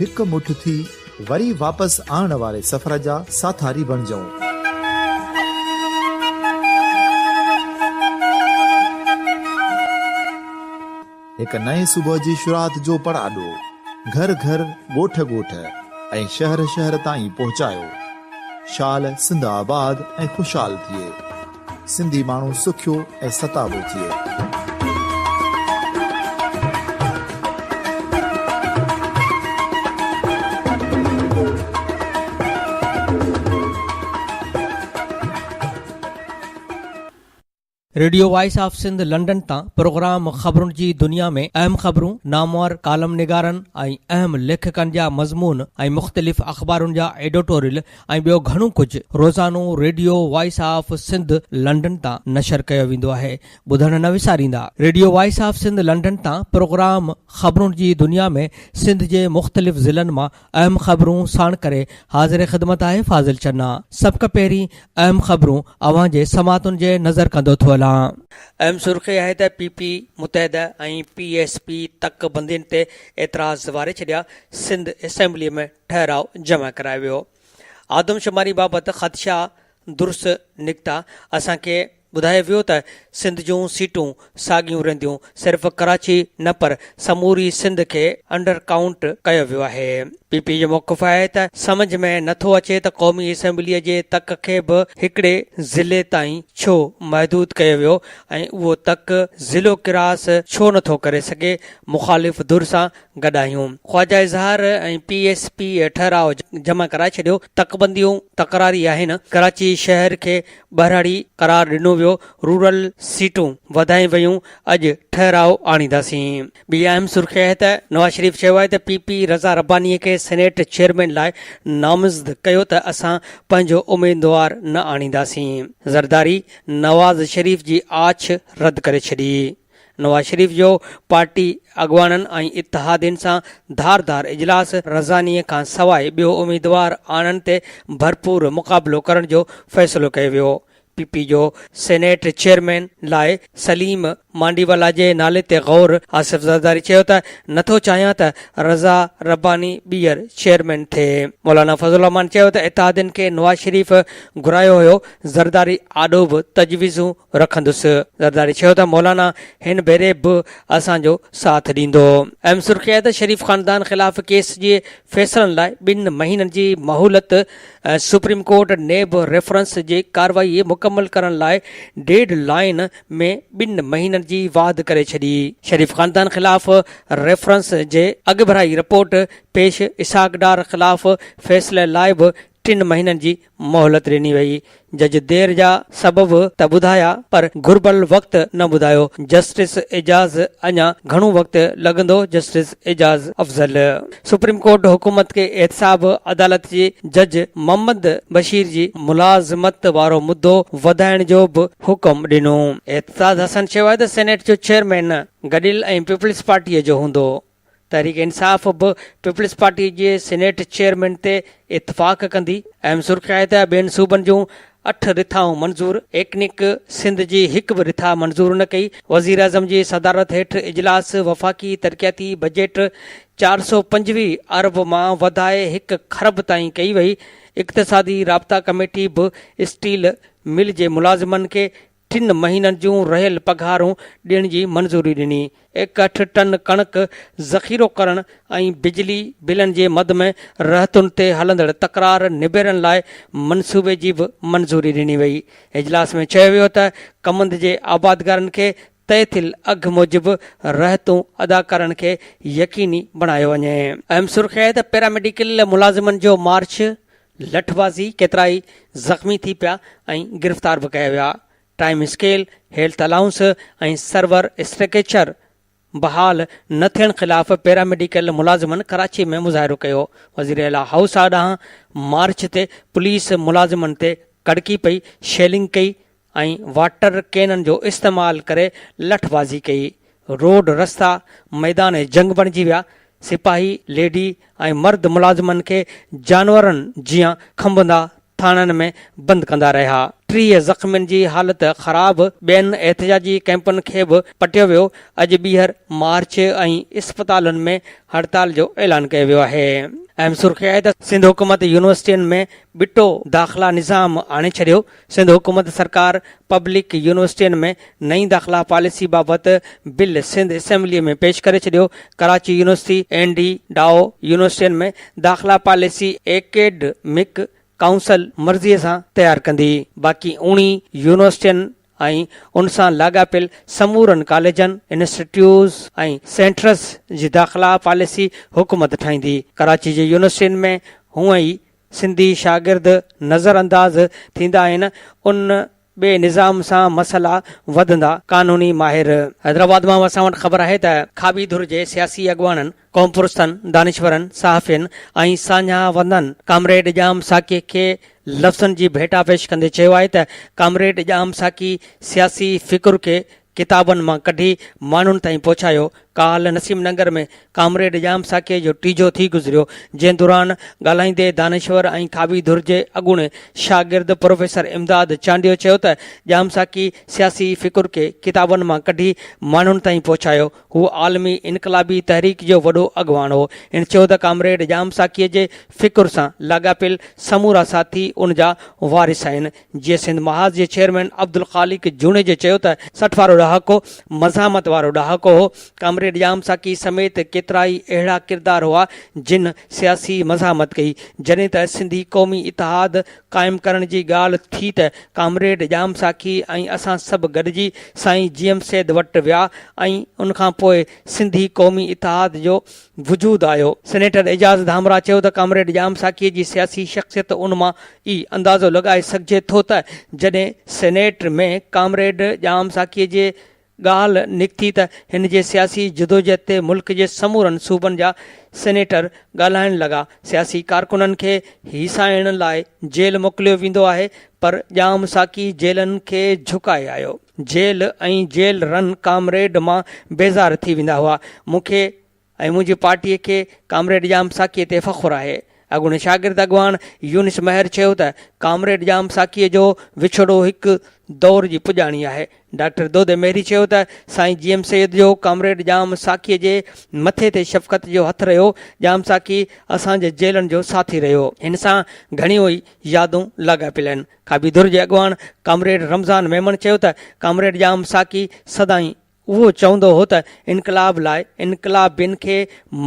هڪ مٺ ٿي وري واپس آڻڻ واري سفر جا ساٿاري بڻجئون. هڪ نئين صبح جي شروعات جو پڙاڏو گهر گهر، ڳوٺ ڳوٺ ۽ شهر شهر تائين پهچايو. شال سنڌ آباد ۽ خوشحال ٿئي. سنڌي ماڻهو سکيو ۽ ستابو ٿئي. Radio voice of Sindh London تان پروگرام خبرن جي دنيا ۾ اهم خبرون، نامور ڪالم نگارن ۽ اهم ليکڪن جا مضمون ۽ مختلف اخبارن جا ايڊوٽوريل ۽ ٻيو گهڻو ڪجهه روزانو radio voice of Sindh London تان نشر ڪيو ويندو آهي ٻڌڻ نه وساريندا radio voice of Sindh London تان پروگرام خبرون جي دنيا ۾ سنڌ جي مختلف ضلعن مان اهم خبرون ساڻ ڪري حاضر خدمت آهي فاضل چنا سبکه پهرين اهم خبرون اوهان جي سماعتن جي نظر ڪندو ٿو هلان. اهم سرخي آهي ته P P Muttahida ۽ P S P تڪ بندين تي اعتراض واري ڇڏيا سنڌ اسيمبلي ۾ ٺهراء جمع ڪرايو ويو. آدمشماري بابت خدشا درست نڪتا. اسان کي ٻڌايو ويو ته سنڌ جون سيٽون ساڳيون رهنديون، صرف ڪراچي نه پر سموري سنڌ کي انڊر ڪائونٽ ڪيو ويو آهي. پي پي جو موقف آهي ته سمجهه ۾ نه ٿو اچي ته قومي اسيمبليء جي تڪ کي به هڪڙي ضلعي تائين ڇو محدود ڪيو ويو ۽ اهو تڪ ضلعو ڪراس ڇو نه ٿو ڪري سگهي، مخالف ڌر سان گڏ آهيون. Khawaja Izhar ۽ P S P ٺهراء جمع ڪرائي ڇڏيو، تڪ بنديون تڪراري آهن، ڪراچي شهر کي ٻهراڙي قرار ڏنو ويو، رورل سيٽون وڌايون ويون، اڄ ٺهراء آڻينداسين. ٻي اهم سرخي آهي ته نواز شريف چيو آهي ته پي پي رضا رباني کي سينيٽ چيئرمين لاء نامزد ڪيو ته اسان پنهنجو اميدوار نه آڻينداسين. زرداري نواز شريف جي آڇ رد ڪري ڇڏي. نواز شريف جو پارٽي اڳواڻن ۽ اتحادين سان ڌار ڌار اجلاس رزاني کان سواء ٻيو اميدوار آڻڻ تي ڀرپور مقابلو ڪرڻ جو فيصلو ڪيو ويو، پي پي جو سينيٽ چيئرمين لاء سليم مانڊيوالا جي نالي تي غور آصف زرداري چيو ته نٿو چاهيان ته رضا رباني ٻيهر چيئرمين ٿئي، مولانا فضل الرحمان چيو ته اتحادين کي نواز شريف گهرايو هيو، زرداري آڏو به تجويزون رکندس، زرداري چيو ته مولانا هن ڀيري به اسان جو ساٿ ڏيندو. ايم سرخيء ته شريف خاندان خلاف ڪيس جي فيصلن لاء ٻن مهينن جي مهولت ۽ سپريم ڪورٽ نيب ريفرنس جي ڪارروائي مڪمل ڪرڻ لاء ڊيڊ لائين ۾ ٻن مهينن جي واڌ ڪري ڇڏي. شريف خاندان خلاف ريفرنس جي اڳڀرائي رپورٽ پيش اسحاق ڊار خلاف فيصلي لاء به ٽن مهينن جي مهلت ڏني وئي. جج دير جا سبب ته ٻڌايا پر گهربل وقت نه ٻڌايو. جسٽس اعجاز اڃا گهڻو وقت لڳندو justice Ijaz Afzal supreme court حڪومت کي احتساب عدالت جي جج محمد بشير جي ملازمت وارو مدو وڌائڻ جو به حڪم ڏنو. اعتزاز حسن شيوائد سينيٽ جو چيئرمين گڏيل ۽ پيپلز پارٽيء جو هوندو. تحريڪ انصاف به پيپلز پارٽي جي سينيٽ چيئرمين تي اتفاق ڪندي، اهم سرخي آهي ته ٻين صوبن جون اٺ رٿائون منظور، ايڪنڪ سنڌ جي هڪ به رٿا منظور نه ڪئي، وزيراعظم جي صدارت هيٺ اجلاس وفاقي ترقياتي بجيٽ چار سؤ پنجويهه ارب مان وڌائي هڪ کرب تائين ڪئي وئي، اقتصادي رابطا ڪميٽي به اسٽيل مل جي ملازمن کي ٽن مهينن جون رهيل پگهارون ڏيڻ جي منظوري ڏني، ايڪهٺ ٽن ڪڻڪ ذخيرو ڪرڻ ۽ بجلي بلن جي مد ۾ رهتن تي هلندڙ تڪرار نبيرڻ لاء منصوبي جي به منظوري ڏني وئي. اجلاس ۾ چيو ويو ته ڪمند جي آبادگارن کي طئي ٿيل اگهه موجب رهتون ادا ڪرڻ کي يقيني بڻايو وڃي. اهم سرخي آهي ته پيراميڊيڪل ملازمن جو مارچ لٺ بازي ڪيترائي زخمي ٿي پيا ۽ گرفتار به ڪيا ويا، ٽائيم اسڪيل، هيلٿ الائونس ۽ سرور اسٽرڪيچر بحال نه ٿيڻ خلاف پيراميڊيڪل ملازمن ڪراچي ۾ مظاهرو ڪيو، وزير اعليٰ هائوس آڏانهن مارچ تي پوليس ملازمن تي ڪڙڪي پئي، شيلنگ ڪئي، ۽ واٽر ڪينن جو استعمال ڪري لٺ بازي ڪئي، روڊ رستا ميدان جنگ بڻجي ويا، سپاهي، ليڊي ۽ مرد ملازمن کي جانورن جيان کنڀندا ٿاڻن ۾ بند ڪندا رهيا، ٽيهه زخمين جي حالت خراب، ٻين احتجاجي ڪئمپن کي به پٽيو ويو، اڄ ٻيهر مارچ ۽ اسپتالن ۾ هڙتال جو اعلان ڪيو ويو آهي، اهم سرخي آهي ته سنڌ حڪومت يونيورسٽين ۾ ٻٽو داخلا نظام آڻي ڇڏيو، سنڌ حڪومت سرڪار پبلڪ يونيورسٽين ۾ نئين داخلا پاليسي بابت بل سنڌ اسيمبلي ۾ پيش ڪري ڇڏيو، Karachi university and Dow يونيورسٽين ۾ داخلا پاليسي ايڪيڊمڪ ڪائونسل مرضي سان تيار ڪندي، باقي اڻي يونيورسٽين ۽ ان سان لاڳاپيل سمورن ڪاليجن، انسٽيٽيوز ۽ سينٽرز جي داخلا پاليسي حڪومت ٺاهيندي، ڪراچي جي يونيورسٽين ۾ هونئن ئي سنڌي شاگرد نظرانداز ٿيندا آهن ان ٻئي نظام سان مسئلا وڌندا، قانوني ماهر. حيدرآباد مان اسان وٽ خبر آهي ته کاٻي ڌر جي سياسي اڳواڻن، قوم پرستن، دانشورن، صحافين ۽ ساڃاهه وندن ڪامريڊ ڄام ساقيء کي لفظن جي ڀيٽا پيش ڪندي چيو آهي ته ڪامريڊ ڄام ساقي سياسي فڪر کي ڪتابن مان ڪڍي ماڻهن تائين پهچايو. ڪالهه نسيم ننگر ۾ ڪامريڊ ڄام ساقيء جو ٽيجهو ٿي گذريو، جنهن دوران ڳالهائيندي دانشور ۽ کاٻي ڌر جي اڳوڻي شاگرد پروفيسر امداد چانڊيو چيو ته ڄام ساقي سياسي فڪر کي ڪتابن مان ڪڍي ماڻهن تائين پهچايو، هو عالمي انقلابي تحريڪ جو وڏو اڳواڻ هو. هن چيو ته ڪامريڊ ڄام ساقيء جي فڪر سان لاڳاپيل سمورا ساٿي ان جا وارث آهن، جيئي سنڌ محاذ جي چيئرمين عبدالخالق جوڻيجي چيو ته سٺ وارو ڏهاڪو مزاحمت وارو ڏهاڪو هو، ڪامريڊ ڄام ساقي سميت ڪيترائي اهڙا ڪردار هئا جن سياسي مزاحمت ڪئي، جڏهن ته سنڌي قومي اتحاد قائم ڪرڻ جي ڳالهه ٿي ته ڪامريڊ ڄام ساقي ۽ اسان سڀ گڏجي سائين جيئم سيد وٽ ويا ۽ ان کان پوء سنڌي قومي اتحاد جو وجود آيو. سينيٽر اعجاز ڌامراهه چيو ته ڪامريڊ ڄام ساقيء جي سياسي شخصيت ان مان ئي اندازو لڳائي سگهجي ٿو ته جڏهن سينيٽ ۾ ڪامريڊ ڄام ساقيء جي ڳالهه نڪتي ته هن جي سياسي جدوجهد تي ملڪ جي سمورن صوبن جا سينيٽر ڳالهائڻ لڳا، سياسي ڪارڪنن کي هيسائڻ لاء جيل موڪليو ويندو آهي پر ڄام ساقي جيلن کي جهڪائي آيو. جيل ۽ جيل رن ڪامريڊ مان بيزار ٿي ويندا هئا. مون کي ۽ منهنجي پارٽيء کي ڪامريڊ ڄام ساقيء تي فخر آهي. اڳوڻي شاگرد اڳواڻ يونس مهر چيو ته ڪامريڊ ڄام ساقيء جو وڇوڙو هڪ دور جي پڄاڻي آهي. ڊاڪٽر دودي مهري چيو ته سائين جي ايم سيد جو ڪامريڊ ڄام ساقيء جي مٿي تي شفقت جو هٿ رهيو. ڄام ساقي اسان جي جيلن جو ساٿي رهيو. هن سان گهڻيون ئي يادون لاڳاپيل آهن. کاٻي ڌر جي اڳواڻ ڪامريڊ رمضان ميمڻ چيو ته ڪامريڊ ڄام ساقي سدائين اهو چوندو هو ته انقلاب لاء انقلابين کي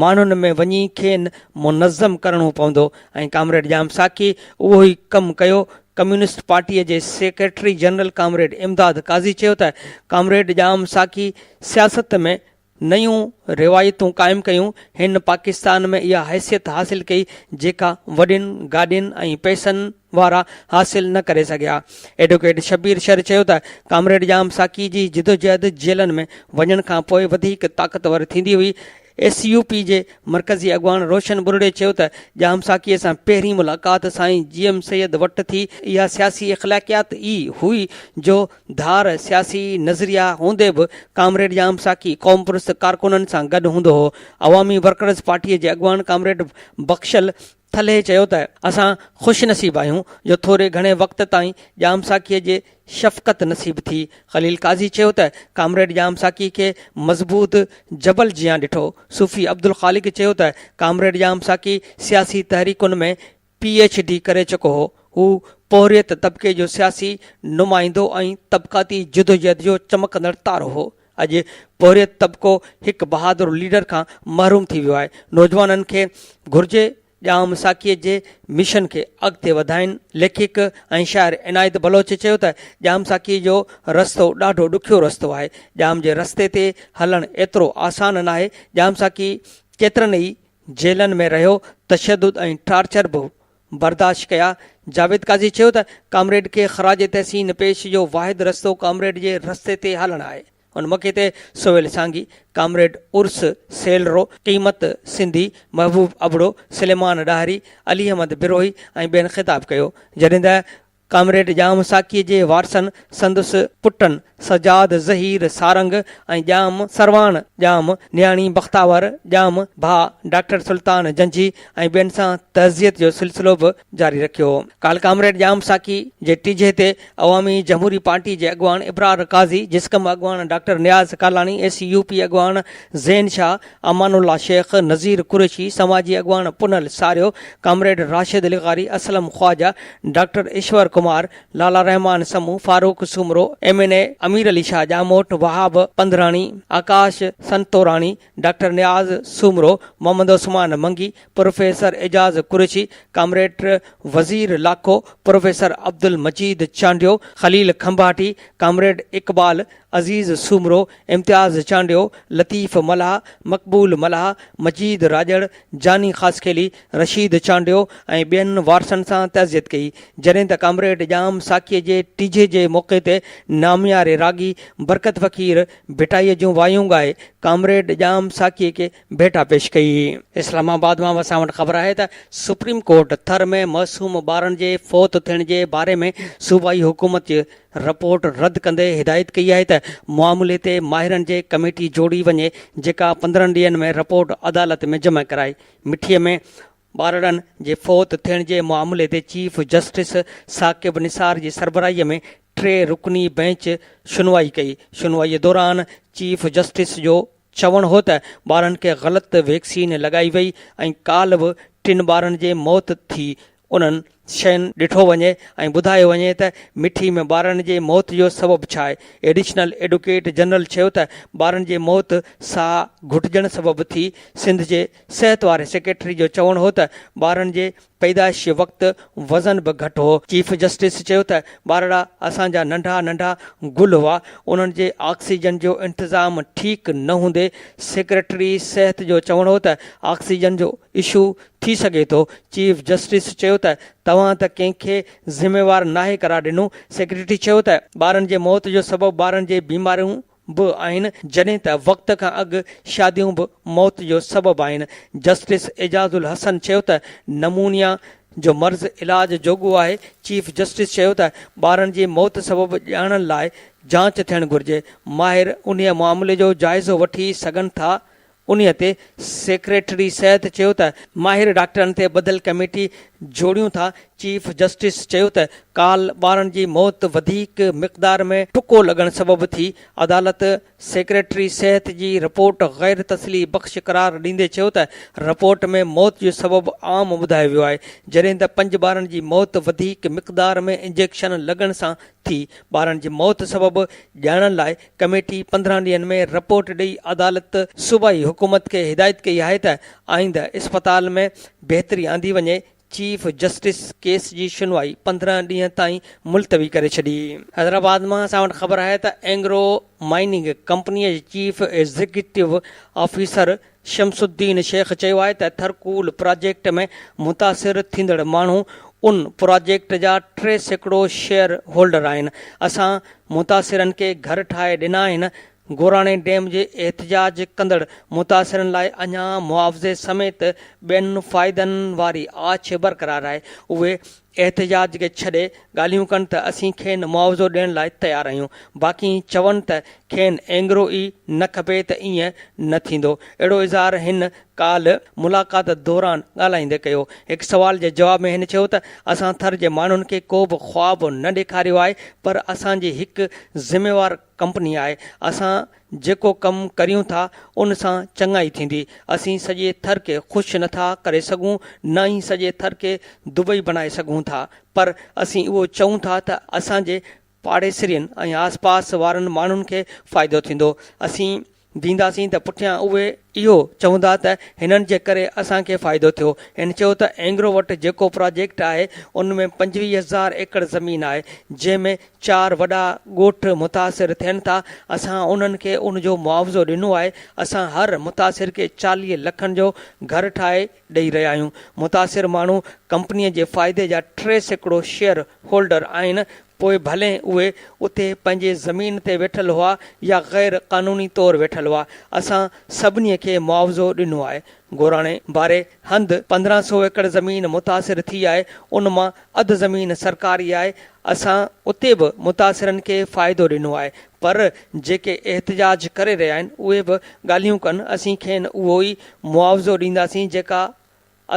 ماڻهن ۾ وڃي کين منظم ڪرڻو پوندو ۽ ڪامريڊ ڄام ساقي اهو ئي ڪم ڪيو ڪميونسٽ پارٽي جي secretary general comrade Imdad Qazi چيو ته ڪامريڊ ڄام ساقي سياست ۾ نيون روايتون قائم ڪيون، هن پاڪستان ۾ اها حيثيت حاصل ڪئي جيڪا وڏين گاڏين ۽ پئسن وارا حاصل نه ڪري سگهيا. ايڊووڪيٽ شبير شر چيو ته ڪامريڊ ڄام ساقي جي جدوجهد جيلن ۾ وڃڻ کان پوء وڌيڪ طاقتور ٿيندي هئي. ايس يو پي جي مرڪزي اڳواڻ روشن ٻرڙي چيو ته ڄام ساقي سان پهرين ملاقات سائين جي ايم سيد وٽ ٿي، اها سياسي اخلاقيات ئي هئي جو ڌار، سياسي نظريا هوندي به ڪامريڊ ڄام ساقي قوم پرست ڪارڪنن سان گڏ هوندو هو. عوامي ورڪرز پارٽيء جي اڳواڻ ڪامريڊ بخشل ٿلهي چيو ته اسان خوش نصيب آهيون جو ٿوري گهڻي وقت تائين ڄام ساقيء جي شفقت نصيب ٿي. خليل قاضي چيو ته ڪامريڊ ڄام ساقي کي مضبوط جبل جيان ڏٺو. صوفي عبدالخالق چيو ته ڪامريڊ ڄام ساقي سياسي تحريڪن ۾ پي ايڇ ڊي ڪري چڪو هو. هو پورهيت طبقي جو سياسي نمائندو ۽ طبقاتي جدوجهد جو چمڪندڙ تارو هو. اڄ پورهيت طبقو هڪ بهادر ليڊر کان محروم ٿي ويو آهي. نوجوانن کي گهرجي ڄام ساقيء جي مشن کي اڳتي وڌائين. ليکڪ ۽ شاعر عنايت بلوچ چيو ته ڄام ساقيء جو رستو ڏاڍو ڏکيو رستو آهي. ڄام جي رستي تي هلڻ ايترو آسان ناهي. ڄام ساقي ڪيترن ئي جيلن ۾ رهيو تشدد ۽ ٽارچر به برداشت ڪيا. جاويد قاضي چيو ته ڪامريڊ کي خراج تحسين پيش جو واحد رستو ڪامريڊ جي رستي تي هلڻ آهي. ان موقعي تي سهيل سانگي، ڪامريڊ عرس سيلرو، قيمت سنڌي، محبوب ابڙو، سليمان ڏاهري، علي احمد بروهي ۽ ٻين خطاب ڪيو. جڏهن ته ڪامريڊ ڄام ساقيء جي وارثن سندس پٽن سجاد، ظهير، سارنگ ۽ ڄام سرواڻ، ڄام نياڻي بختاور، ڄام ڀاء ڊاڪٽر سلطان جنجهي ۽ ٻين سان تعزيت جو سلسلو به جاري رکيو. ڪالهه ڪامريڊ ڄام ساقي جي ٽيجهي تي عوامي جمهوري پارٽي جي اڳواڻ ابرار قاضي، جسقم اڳواڻ doctor Niaz Kalani, A C U P اڳواڻ زين شاهه، امان الله شيخ، نذير قريشي، سماجي اڳواڻ پنهل ساريو، ڪامريڊ راشد لغاري، Aslam Khawaja, doctor Ishwar Kumar, Lala Rehman Samoon, Farooq Soomro, M N A Amir Ali Shah Jamot, Wahab Pandhrani, Akash Santorani, doctor Niaz Soomro, Muhammad Usman Mangi, professor Ejaz Qureshi, comrade Wazir Lakho, professor Abdul Majeed Chandio, Khalil Kumbhati, comrade Iqbal Aziz Soomro, Imtiaz Chandio, Latif Mallah, Maqbool Mallah, مجيد راڄڙ، جاني خاصخيلي، رشيد چانڊيو ۽ ٻين وارثن سان تعزيت ڪئي، جڏهن ته ڪامريڊ ڄام ساقيء جي ٽيجهي جي موقعي تي نامياري راڳي برڪت فقير ڀٽائيء جون وايون ڳائي ڪامريڊ ڄام ساقيء کي ڀيٽا پيش ڪئي. اسلام آباد مان اسان وٽ خبر آهي ته سپريم ڪورٽ ٿر ۾ معصوم ٻارن جي فوت ٿيڻ جي باري ۾ صوبائي حڪومت جي رپورٽ رد ڪندي هدايت ڪئي آهي ته معاملي تي ماهرن جي ڪميٽي جوڙي وڃي جيڪا پندرهن ڏينهن ۾ رپورٽ عدالت ۾ جمع ڪرائي. مٺي ۾ ٻارڙن جي فوت ٿيڻ جي معاملي تي چيف جسٽس ثاقب نثار جي سربراهي ۾ ٽي رڪني بئنچ شنوائي ڪئي، شنوائي دوران چيف جسٽس جو چوڻ هو ته ٻارن کي غلط ويڪسين لڳائي وئي ۽ ڪالهه به ٽن ٻارن جي موت ٿي، انهن شين ڏٺو وڃي ۽ ٻڌايو وڃي ته مٺي ۾ ٻارن جي موت جو سبب ڇا آهي. ايڊيشنل ايڊوڪيٽ جنرل چيو ته ٻارن جي موت ساهه گهٽجڻ سبب ٿي، سنڌ جي صحت واري سيڪريٽري جو چوڻ هو ته ٻارن جي پيدائشي وقت وزن به گهٽ هو. چيف جسٽس چيو ته ٻارڙا اسان جا ننڍا ننڍا گل هئا، انهن جي آڪسيجن جو انتظام ٺيڪ نه هوندي، سيڪريٽري صحت جو چوڻ هو ته آڪسيجن جو اشو ٿي سگهي ٿو، چيف جسٽس چيو ته توهان ته ڪنهن کي ذميوار ناهي قرار ڏنو، سيڪريٽري چيو ته ٻارن جي موت جو سبب ٻارن جي بيماريون به آهن، جڏهن ته وقت کان اڳ شاديون به موت جو سبب آهن، جسٽس اعجاز الحسن چيو ته نمونيا جو مرض علاج جوڳو آهي، چيف جسٽس چيو ته ٻارن جي موت سبب ڄاڻڻ لاء جاچ ٿيڻ گهرجي، ماهر انهيء معاملي جو جائزو وٺي سگهن ٿا، انهيء تي سيڪريٽري صحت چيو ته ماهر ڊاڪٽرن تي ٻڌل ڪميٽي جوڙيون ٿا، چيف جسٽس چيو ته ڪالهه ٻارن جي موت وڌيڪ مقدار ۾ ٽڪو لڳڻ سبب ٿي، عدالت سيڪريٽري صحت جي رپورٽ غير تسلي بخش قرار ڏيندي چيو ته رپورٽ ۾ موت جو سبب عام ٻڌايو ويو آهي، جڏهن ته پنج ٻارن جي موت وڌيڪ مقدار ۾ انجيڪشن لڳڻ سان ٿي، ٻارن جي موت سبب ڄاڻڻ لاء ڪميٽي پندرهن ڏينهن ۾ رپورٽ ڏئي عدالت صوبائي حڪومت کي هدايت ڪئي آهي ته آئنده اسپتال ۾ بهتري آندي وڃي، چيف جسٽس ڪيس جي شنوائي پندرهن ڏينهن تائين ملتوي ڪري ڇڏي. حيدرآباد مان اسان وٽ خبر آهي ته اينگرو مائننگ ڪمپني جي chief executive officer Shams Uddin Sheikh چيو آهي ته ٿرڪول پراجيڪٽ ۾ متاثر ٿيندڙ ماڻهو ان پراجيڪٽ جا ٽي سيڪڙو شيئر هولڊر آهن، اسان متاثرن کي گهر ٺاهي ڏنا آهن، گوراڻي ڊيم جي احتجاج ڪندڙ متاثرن لاء اڃا معاوضي سميت ٻين فائدن واري آڇ برقرار آهي، اهي احتجاج کي ڇڏي ڳالهيون ڪن ته اسين کين معاوضو ڏيڻ لاء تيار آهيون باقي چون ته کين اينگرو ئي نه کپي ته ائين نه ٿيندو اهڙو اظهار هن ڪالهه ملاقات دوران ڳالهائيندي ڪيو هڪ سوال جي جواب ۾ هن چيو ته اسان ٿر جي ماڻهن کي ڪو به خواب نه ڏيکاريو آهي پر اسان جي هڪ ذميوار ڪمپني آهي، اسان جيڪو ڪم ڪريون ٿا ان سان چڱائي ٿيندي، اسين سڄي ٿر کي خوش نه ٿا ڪري سگهون نه ئي سڄي ٿر کي دبئي بڻائي سگهون ٿا پر اسين اهو چئون ٿا ته اسان جي پاڙيسرين ۽ آسپاس وارن ماڻهن کي فائدو ٿيندو، اسين. ڏينداسين ته پٺيان اهي اهو چوندا ته هنن جي ڪري اسان کي فائدو ٿيو. هن چيو ته اينگرو وٽ جيڪو پراجيڪٽ آهي ان ۾ پنجويهه هزار ايڪڙ زمين آهي جنهن ۾ چار وڏا ڳوٺ متاثر ٿين ٿا اسان انهن کي ان جو معاوضو ڏنو آهي اسان هر متاثر کي چاليهه لکن جو گهر ٺاهي ڏئي رهيا آهيون متاثر ماڻهو ڪمپني جي فائدي جا ٽي سيڪڙو شيئر هولڊر آهن پوء ڀلين اهي اتي پنهنجي زمين تي ويٺل هئا يا غير قانوني طور ويٺل هئا، اسان سڀني کي معاوضو ڏنو آهي. گوراڻي واري هنڌ پندرهن سو ايڪڙ زمين متاثر ٿي آهي، ان مان اڌ زمين سرڪاري آهي، اسان اتي به متاثرن کي فائدو ڏنو آهي، پر جيڪي احتجاج ڪري رهيا آهن اهي به ڳالهيون ڪن، اسين کين اهو ئي معاوضو ڏينداسين جيڪا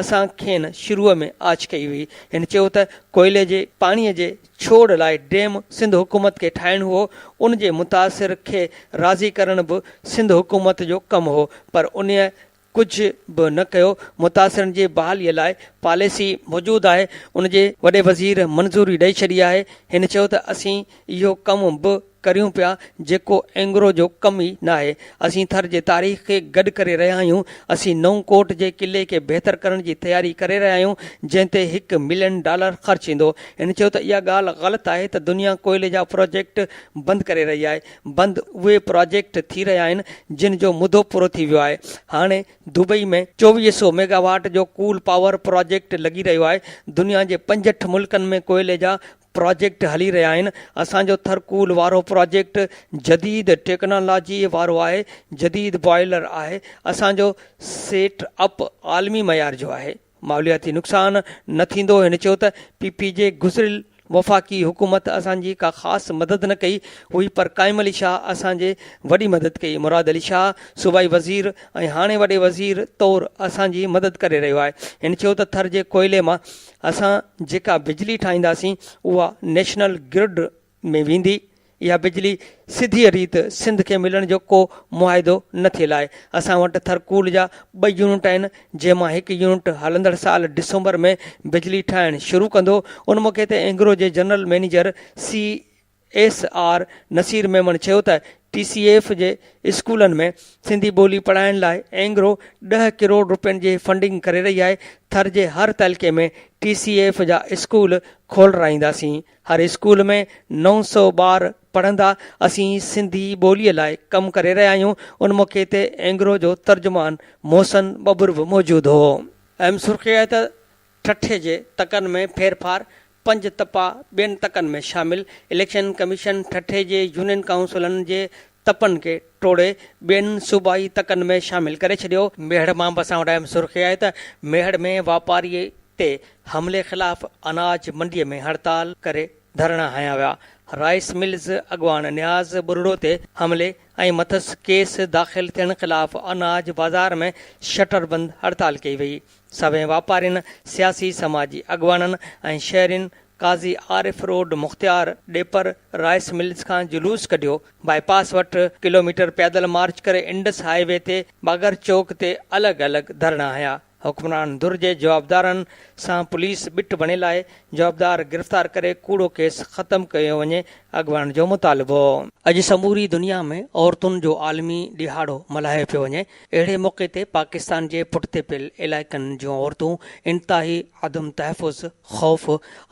اسان کين شروع ۾ آڇ ڪئي هئي. هن چيو ته ڪوئلي جي پاڻي جي ڇوڙ لاء ڊيم سنڌ حڪومت کي ٺاهڻ هئو، ان جي متاثر کي راضي ڪرڻ به سنڌ حڪومت جو ڪم هئو پر انهيء ڪجهه به نه ڪيو، متاثرن جي بحاليء لاء پاليسي موجود آهي، ان جي وڏي وزير منظوري ڏئي ڇڏي آهي، هن چيو ته اسين اهو ڪم به. ڪريون پيا جيڪو اينگرو جو ڪم ئي ناهي. اسين ٿر جي تاريخ کي گڏ ڪري رهيا آهيون. اسين نئون ڪوٽ جي قلعي کي بهتر ڪرڻ جي تياري ڪري رهيا آهيون جنهن تي هڪ ملين ڊالر خرچ ٿيندو. هن چيو ته اها ڳالهه غلط آهي ته دنيا ڪوئلي جا پراجيڪٽ بند ڪري رهي آهي. بند اهي پراجيڪٽ ٿي رهيا آهن جن جو مدو پورو ٿي ويو آهي. هاڻي دبئي ۾ چوويهه سئو ميگا واٽ جو ڪول پاور پراجيڪٽ لڳي رهيو آهي. دنيا جي پنجهٺ ملڪن ۾ ڪوئلي جا پراجيڪٽ هلي رهيا آهن اسان جو ٿرڪول وارو پراجيڪٽ جديد ٽيڪنالاجي وارو آهي جديد بوائلر آهي اسان جو سيٽ اپ عالمي معيار جو آهي ماحولياتي نقصان نه ٿيندو هن چيو ته پي پي جي گذريل وفاقي حڪومت اسان جي ڪا خاص مدد نه ڪئي هئي پر قائم علي شاهه اسان جي وڏي مدد ڪئي مراد علي شاهه صوبائي وزير ۽ هاڻي وڏي وزير طور اسان جي مدد ڪري رهيو آهي هن چيو ته ٿر جي ڪوئلي مان اسان جيڪا بجلي ٺاهينداسين اها نيشنل گرڊ ۾ ويندي، اها بجلي سڌيء ريت سنڌ کي ملڻ جو ڪو معاهدو نه ٿيل آهي، اسان وٽ ٿرڪول جا ٻه يونٽ آهن جنهن مان هڪ يونٽ هلندڙ سال ڊسمبر ۾ بجلي ٺاهڻ شروع ڪندو، ان موقعي تي اينگرو جي general manager C. S R Naseer Memon چيو ته ٽي سي ايف جي اسڪولن ۾ سنڌي ٻولي پڙهائڻ لاء اينگرو ڏهه ڪروڙ رپين جي فنڊنگ ڪري رهي آهي، ٿر جي هر تعلقي ۾ ٽي سي ايف جا اسڪول کولرائينداسين، هر اسڪول ۾ نو سؤ ٻار پڙهندا، اسين سنڌي ٻولي لاء ڪم ڪري رهيا آهيون، ان موقعي تي اينگرو جو ترجمان محسن ٻٻر به موجود هو. اهم سرخي آهي ته ٺٽي جي تڪن ۾ ڦيرڦار، پنج تپا ٻين تڪن ۾ شامل، اليڪشن ڪميشن ٺٽي جي يونين ڪائونسلن جي تپن کي ٽوڙي ٻين صوبائي تڪن ۾ شامل ڪري ڇڏيو. ميهڙ مان به اسان وٽ اهم سرخي آهي ته ميهڙ ۾ واپاري تي حملي خلاف اناج منڊي ۾ هڙتال ڪري ڌرڻا هنيا ويا، رائيس ملز اڳواڻ نياز ٻرڙو تي حملي ۽ مٿس ڪيس داخل ٿيڻ خلاف اناج بازار ۾ شٽر بند هڙتال ڪئي وئي، سوين واپارين، سياسي سماجي اڳواڻن ۽ شهرين Qazi Arif road Mukhtiar Dhepar rice mills کان جلوس ڪڍيو، بائي پاس وٽ ڪلوميٽر پيدل مارچ ڪري انڊس هاء وي تي باگهر چوڪ تي الڳ الڳ ڌرڻا هنيا، حڪمران ڌر جي جوابدارن سان پوليس ٻٽ بڻيل آهي، جوابدار گرفتار ڪري ڪوڙو ڪيس ختم ڪيو وڃي، اڳواڻن جو مطالبو. اڄ سموري دنيا ۾ عورتن جو عالمي ڏهاڙو ملهايو پيو وڃي، اهڙي موقعي تي پاڪستان جي پٺتي پيل علائقن جون عورتون انتهائي عدم تحفظ، خوف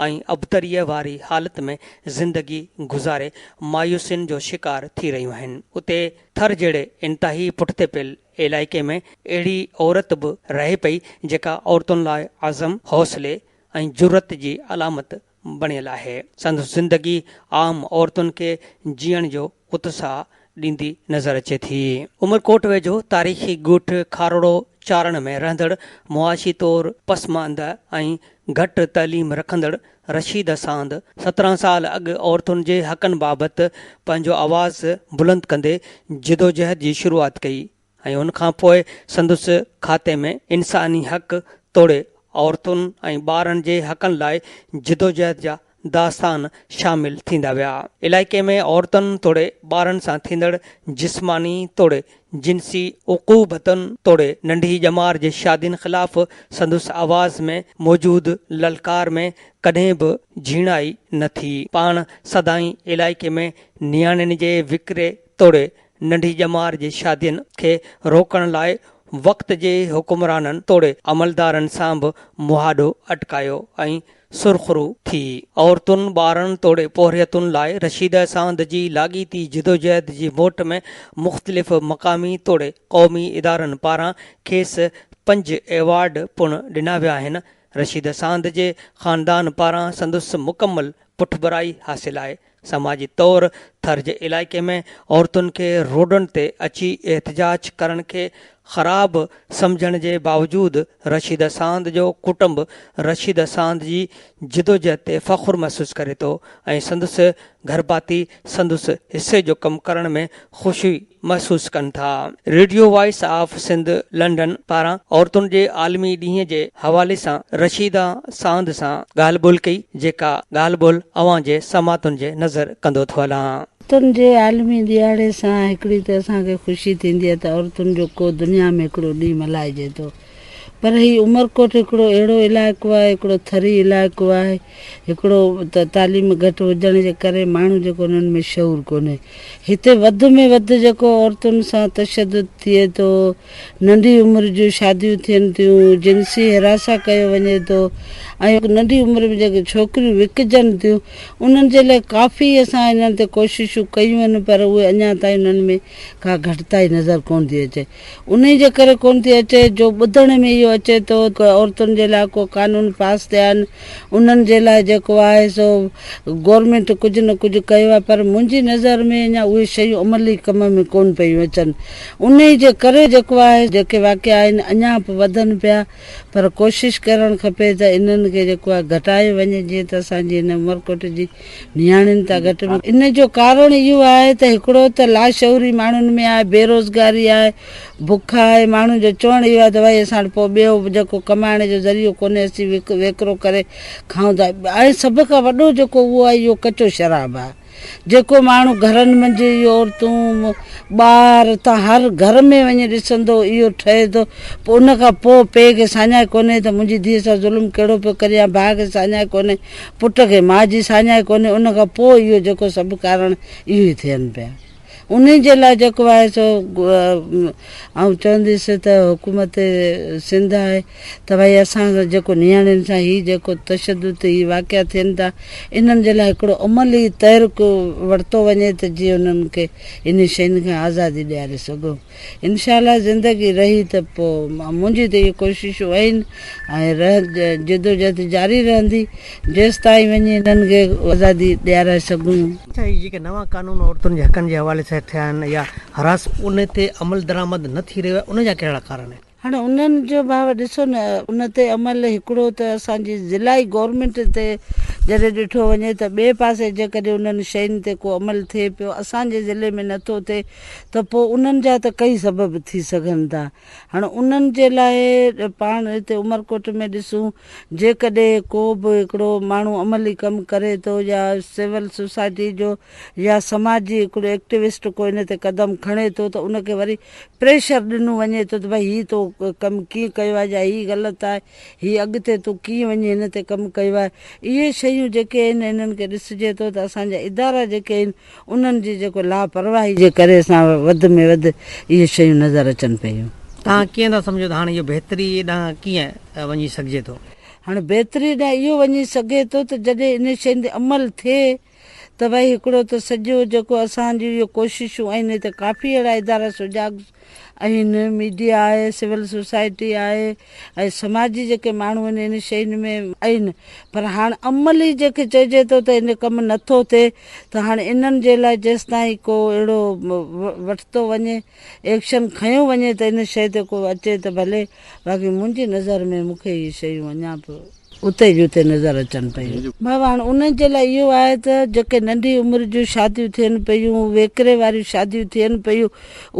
۽ ابتريء واري حالت ۾ زندگي گذاري مايوسين جو شڪار ٿي رهيون آهن. اتي ٿر جهڙي انتهائي پٺتي پيل علائقي ۾ اهڙي عورت به رهي پئي جيڪا عورتن لاء عزم، حوصلي ۽ جرئت جي علامت بڻيل آهي. سندس زندگي عام عورتن کي جيئڻ جو اتساهه ڏيندي نظر اچي ٿي. عمرڪوٽ ويجهو تاريخي ڳوٺ کاروڙو چارڻ ۾ رهندڙ معاشي طور پسماند ۽ گهٽ تعليم رکندڙ رشيد اساند سترهن سال اڳ عورتن جي حقن بابت پنهنجو آواز بلند ڪندي جدوجهد جي شروعات ڪئي ۽ ان کان پوء سندس کاتي ۾ انساني حق توڙي عورتن ۽ ٻارن جي حقن لاء جدوجهد جا داستان شامل ٿيندا ويا. علائقي ۾ عورتن توڙي ٻارن سان ٿيندڙ جسماني توڙي جنسي عقوبتن توڙي ننڍي ڄمار جي شادين خلاف سندس آواز ۾ موجود للڪار ۾ ڪڏهن به جهيڻائي نه ٿي. پاڻ سدائين علائقي ۾ نياڻين جي وڪري توڙي ننڍي ڄمار جي شادين کي روڪڻ لاء وقت جي حڪمرانن توڙي عملدارن سان به مهاڏو اٽڪايو ۽ سرخرو ٿي عورتن، ٻارن توڙي پورهيتن لاء رشيده ساند جي لاڳيتي جدوجهد جي موٽ ۾ مختلف مقامي توڙي قومي ادارن پاران کيس پنج ايوارڊ پڻ ڏنا ويا آهن. رشيده ساند جي خاندان پاران سندس مڪمل پٺڀرائي حاصل آهي. سماجي طور ٿر جي علائقي ۾ عورتن کي روڊن تي اچي احتجاج ڪرڻ کي خراب سمجهڻ جي باوجود رشيده ساند جو ڪٽنب رشيده ساند جي جدوجهد تي فخر محسوس ڪري ٿو ۽ سندس گهرڀاتي سندس حصي جو ڪم ڪرڻ ۾ خوشي محسوس ڪن ٿا. Radio voice of Sindh London پاران عورتن جي عالمي ڏينهن جي حوالي سان رشيده ساند سان ڳالهه ٻولهه ڪئي جيڪا ڳالهه ٻولهه اوهان جي سماعتن جي نظر ڪندو ٿو هلان. عورتن جي عالمي ڏيهاڙي سان هڪڙي ته اسان کي خوشي ٿيندي آهي ته عورتن جو ڪو دنيا ۾ هڪڙو ڏينهن ملهائجي ٿو پر هي عمرڪوٽ هڪڙو اهڙو علائقو آهي، هڪڙو ٿري علائقو آهي، هڪڙو ته تعليم گهٽ هجڻ جي ڪري ماڻهو جيڪو انهن ۾ شعور ڪونهي. هتي وڌ ۾ وڌ جيڪو عورتن سان تشدد ٿئي ٿو، ننڍي عمر جون شاديون ٿين ٿيون، جنسي حراسان ڪيو وڃي ٿو ۽ ننڍي عمر ۾ جيڪي ڇوڪريون وڪجن ٿيون انهن جي لاء ڪافي اسان انهن تي ڪوششون ڪيون آهن پر اهي اڃا تائين انهن ۾ ڪا گهٽتائي نظر ڪونه ٿي اچي. انهيء جي ڪري ڪونه ٿي اچي جو ٻڌڻ ۾ اهو اچي ٿو ته عورتن جي لاء ڪو قانون پاس ٿيا آهن، انهن جي لاء جيڪو آهي سو گورنمينٽ ڪجهه نه ڪجهه ڪيو آهي پر منهنجي نظر ۾ اڃا اهي شيون عملي ڪم ۾ ڪونه پيون اچن، انهيء جي ڪري جيڪو آهي جيڪي واقعا آهن اڃا به وڌن پيا پر ڪوشش ڪرڻ کپي ته انهن کي جيڪو آهي گهٽايو وڃي جيئن ته اسان جي هن عمرڪوٽ جي نياڻين تان گهٽ ۾ ان جو ڪارڻ اهو آهي ته هڪڙو ته لاشعوري ماڻهن ۾ آهي بيروزگاري آهي بک آهي ماڻهن جو چوڻ اهو آهي ته ڀائي اسان وٽ پوء ٻيو جيڪو ڪمائڻ جو ذريعو ڪونهي اسين ويڪرو ڪري کائون ٿا ۽ سڀ کان وڏو جيڪو اهو آهي اهو ڪچو شراب آهي جيڪو ماڻهو گهرن منجهه اهو عورتون ٻار تان هر گهر ۾ وڃي ڏسندو اهو ٺهي ٿو پوء ان کان پوء پيء کي ساڃاهه ڪونهي ته منهنجي ڌيء سان ظلم ڪهڙو پيو ڪريان ڀاء کي ساڃاهه ڪونهي پٽ کي ماء جي ساڃاهه ڪونهي ان کان پوء اهو جيڪو سڀ ڪارڻ اهو ئي ٿين پيا انهي جي لاء جيڪو آهي سو آئون چونديس ته حڪومت سنڌ آهي ته ڀائي اسان سان جيڪو نياڻين سان هي جيڪو تشدد هي واقعا ٿين ٿا انهن جي لاء هڪڙو عملي تحرڪ ورتو وڃي ته جيئن انهن کي انهي شين کان آزادي ڏياري سگهون. انشاء الله زندگي رهي ته پوء منهنجيون ته اهي ڪوششون آهن ۽ جدوجهد جاري رهندي جيستائين وڃي هنن کي آزادي ڏيارائي سگهون. اچا هي جيڪي نوان قانون عورتن جي حقن جي حوالي سان ٿيا آهن يا هراس ان تي عملدرآمد نه ٿي رهيو آهي ان جا ڪهڙا ڪارڻ آهن؟ هاڻي انهن جو ڀاء ڏسو نه ان تي عمل هڪڙو ته اسان جي ضلعي گورنمينٽ تي جڏهن ڏٺو وڃي ته ٻئي پاسي جيڪڏهن انهن شين تي ڪو عمل ٿئي پيو اسان جي ضلعي ۾ نه ٿو ٿئي ته پوء انهن جا ته ڪئي سبب ٿي سگهن ٿا هاڻي انهن جي لاء پاڻ هتي عمرڪوٽ ۾ ڏسون جيڪڏهن ڪو به هڪڙو ماڻهو عملي ڪم ڪري ٿو يا سول سوسائٽي جو يا سماجي هڪڙو ايڪٽوسٽ ڪو ان تي قدم کڻي ٿو ته ان کي وري پريشر ڏنو وڃي ٿو ته ڀئي هي تو ڪم ڪيئن ڪيو آهي جا هي غلط آهي هي اڳتي تو ڪيئن وڃي هن تي ڪم ڪيو آهي اهي شيون جيڪي آهن انهن کي ڏسجي ٿو ته اسان جا ادارا جيڪي آهن انهن جي جيڪو لاپرواهي جي ڪري اسان وڌ ۾ وڌ اهي شيون نظر اچن پيون. توهان ڪيئن ٿا سمجهو ته هاڻ اهو بهتري ڏانهن ڪيئن وڃي سگهجي ٿو؟ هاڻ بهتري ڏانهن اهو وڃي سگهي ٿو ته جڏهن انهن شين تي عمل ٿئي. ته ڀئي هڪڙو ته سڄو جيڪو اسان جون اهي ڪوششون آهن هتي ڪافي اهڙا ادارا سجاڳ آهن ميڊيا آهي سول سوسائٽي آهي ۽ سماجي جيڪي ماڻهو آهن ان شين ۾ آهن پر هاڻ عملي جنهن کي چئجي ٿو ته ان ڪم نٿو ٿئي ته هاڻ انهن جي لاء جيستائين ڪو اهڙو وٺتو وڃي ايڪشن کنيو وڃي ته ان شيء تي ڪو اچي ته ڀلي باقي منهنجي نظر ۾ مون کي اهي شيون اڃا به اتي جي اتي نظر اچن پيون. بابا هاڻ انهن جي لاء اهو آهي ته جيڪي ننڍي عمر جون شاديون ٿين پيون، ويڪري واريون شاديون ٿين پيون،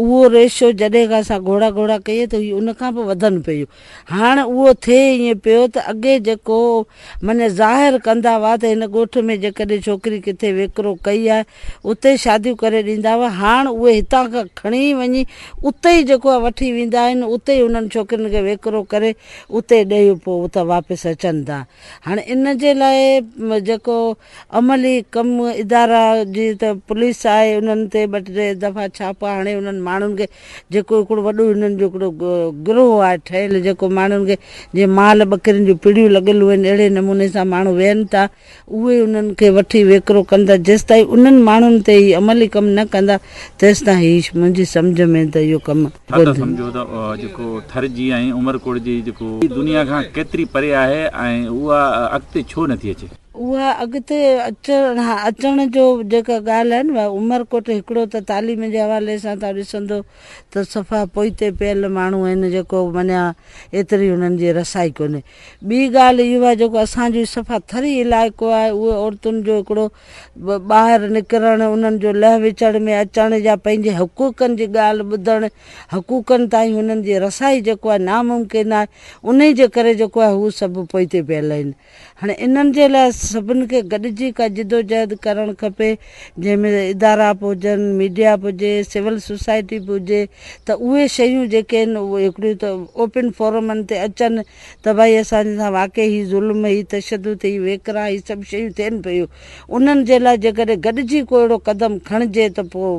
اهو ريشو جڏهن کان اسان گهوڙا گهوڙا ڪيئي ته هي ان کان به وڌن پيون. هاڻ اهو ٿئي ائين پيو ته اڳي جيڪو من ظاهر ڪندا هئا ته هن ڳوٺ ۾ جيڪڏهن ڇوڪري ڪٿي ويڪرو ڪئي آهي اتي شاديون ڪري ڏيندا هئا هاڻ اهي هتان کان کڻي وڃي اتي ئي جيڪو آهي وٺي ويندا آهن اتي ئي انهن ڇوڪرين کي ويڪرو ڪري اتي ڏيئي پوء اتان واپس اچن ٿا هاڻ ان جي لاء جيڪو عملي ڪم ادارا جيئن ته پوليس آهي انهن تي ٻه ٽي دفعا ڇاپا هڻي انهن ماڻهن کي جيڪو هڪڙو وڏو هنن جو هڪڙو گروهه آهي ٺهيل جيڪو ماڻهن کي جيئن مال ٻڪرين جون پڙيون لڳل هئن اهڙي نموني سان ماڻهو ويهن ٿا اهي انهن کي وٺي ويڪرو ڪن ٿا جيستائين انهن ماڻهن تي هي عملي ڪم نه ڪندا تيستائين هي منهنجي سمجهه ۾ ته اهو ڪم ٿر ته سمجهو ته جيڪو ٿر جي ۽ عمرڪوٽ جي جيڪو دنيا کان ڪيتري پري آهي ۽ اها اڳتي ڇو نٿي اچي. اها اڳتي اچڻ جو جيڪا ڳالهه آهي نه اها عمرڪوٽ هڪڙو ته تعليم جي حوالي سان تون ڏسندو ته صفا پوئتي پيل ماڻهو آهن جيڪو معنيٰ ايتري انهن جي رسائي ڪونهي ٻي ڳالهه اهو آهي جيڪو اسان جو صفا ٿري علائقو آهي اهي عورتن جو هڪڙو ٻاهر نڪرڻ انهن جو لهه وچڙ ۾ اچڻ يا پنهنجي حقوقن جي ڳالهه ٻڌڻ حقوقن تائين انهن جي رسائي جيڪو آهي ناممڪن آهي انهي جي ڪري جيڪو آهي هو سڀ پوئتي پيل آهن هاڻي انهن جي لاء سڀني کي گڏجي ڪا جدوجهد ڪرڻ کپي جنهن ۾ ادارا به هجن، ميڊيا به هجي، سول سوسائٽي به هجي ته اهي شيون جيڪي آهن اهي هڪڙيون ته اوپن فورمن تي اچن ته ڀائي اسان سان واقعي هي ظلم، هي تشدد، هي ويڪرا هي سڀ شيون ٿين پيون انهن جي لاء جيڪڏهن گڏجي ڪو اهڙو قدم کڻجي ته پوء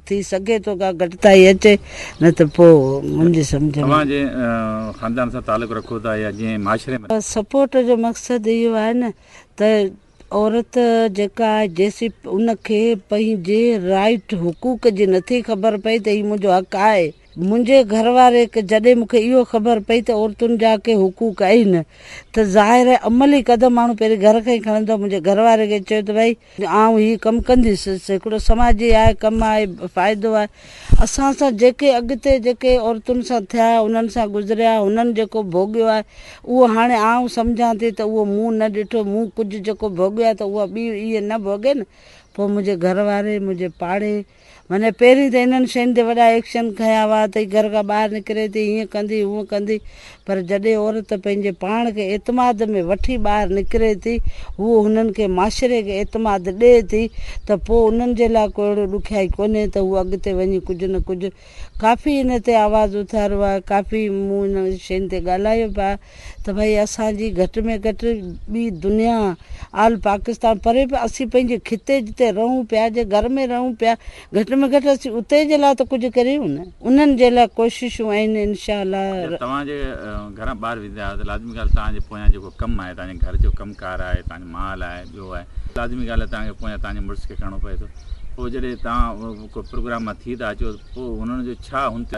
ٿي سگهي ٿو ڪا گهٽتائي اچي نه ته پوء منهنجي سمجهه ۾. اوهان جنهن خاندان سان تعلق رکو ٿا يا جنهن معاشري ۾. سپورٽ جو مقصد اهو آهي نه ته عورت جيڪا آهي جيسين ان کي پنهنجي رائيٽ حقوق جي نٿي خبر پئي ته هي منهنجو حق آهي منهنجي گهر واري کي جڏهن مون کي اهو خبر پئي ته عورتن جا ڪي حقوق اهن ته ظاهر آهي عملي قدم ماڻهو پهرين گهر کان ئي کڻندو، منهنجي گهر واري کي چيو ته ڀائي آئون هي ڪم ڪنديس، هڪڙو سماجي آهي، ڪم آهي، فائدو آهي، اسان سان جيڪي اڳتي جيڪي عورتن سان ٿيا انهن سان گذريا هنن جيڪو ڀوڳيو آهي اهو هاڻي آئون سمجهان ٿي ته اهو مون نه ڏٺو مون ڪجهه جيڪو ڀوڳيو آهي ته اها ٻي اهي نه ڀوڳين پوء منهنجي گهر واري منهنجي پاڙي منهن پهرين ته انهن شين تي وڏا ايڪشن کنيا هئا ته هي گهر کان ٻاهر نڪري ٿي هيئن ڪندي هونئن ڪندي پر جڏهن عورت پنهنجي پاڻ کي اعتماد ۾ وٺي ٻاهر نڪري ٿي هوء هنن کي معاشري کي اعتماد ڏئي ٿي ته پوء انهن جي لاء ڪو اهڙو ڏکيائي ڪونهي ته هوء اڳتي وڃي ڪجهه نه ڪجهه ڪافي ان تي آواز اٿاريو آهي ڪافي مون انهن شين تي ڳالهايو به آهي. ته ڀائي اسان جي گهٽ ۾ گهٽ ٻي دنيا آل پاڪستان پري به اسين پنهنجي خطي جتي رهون پيا جي گهر ۾ رهون پيا گهٽ ۾ گهٽ اسين اتي جي لاء ته ڪجهه ڪريون نه انهن جي لاء ڪوششون آهن انشاء الله. جڏهن توهان جي گهران ٻاهر ويندا آهيو ته لازمي ڳالهه توهان جي پويان جيڪو ڪم آهي توهان جي گهر جو ڪم ڪار آهي توهان جو مال آهي ٻيو آهي لازمي ڳالهه آهي توهان کي پويان توهان جي مڙس کي ڪرڻو پوي ٿو پوء جڏهن توهان ڪو پروگرام مان ٿي ٿا اچو ته پوء انهن جو ڇا هن تي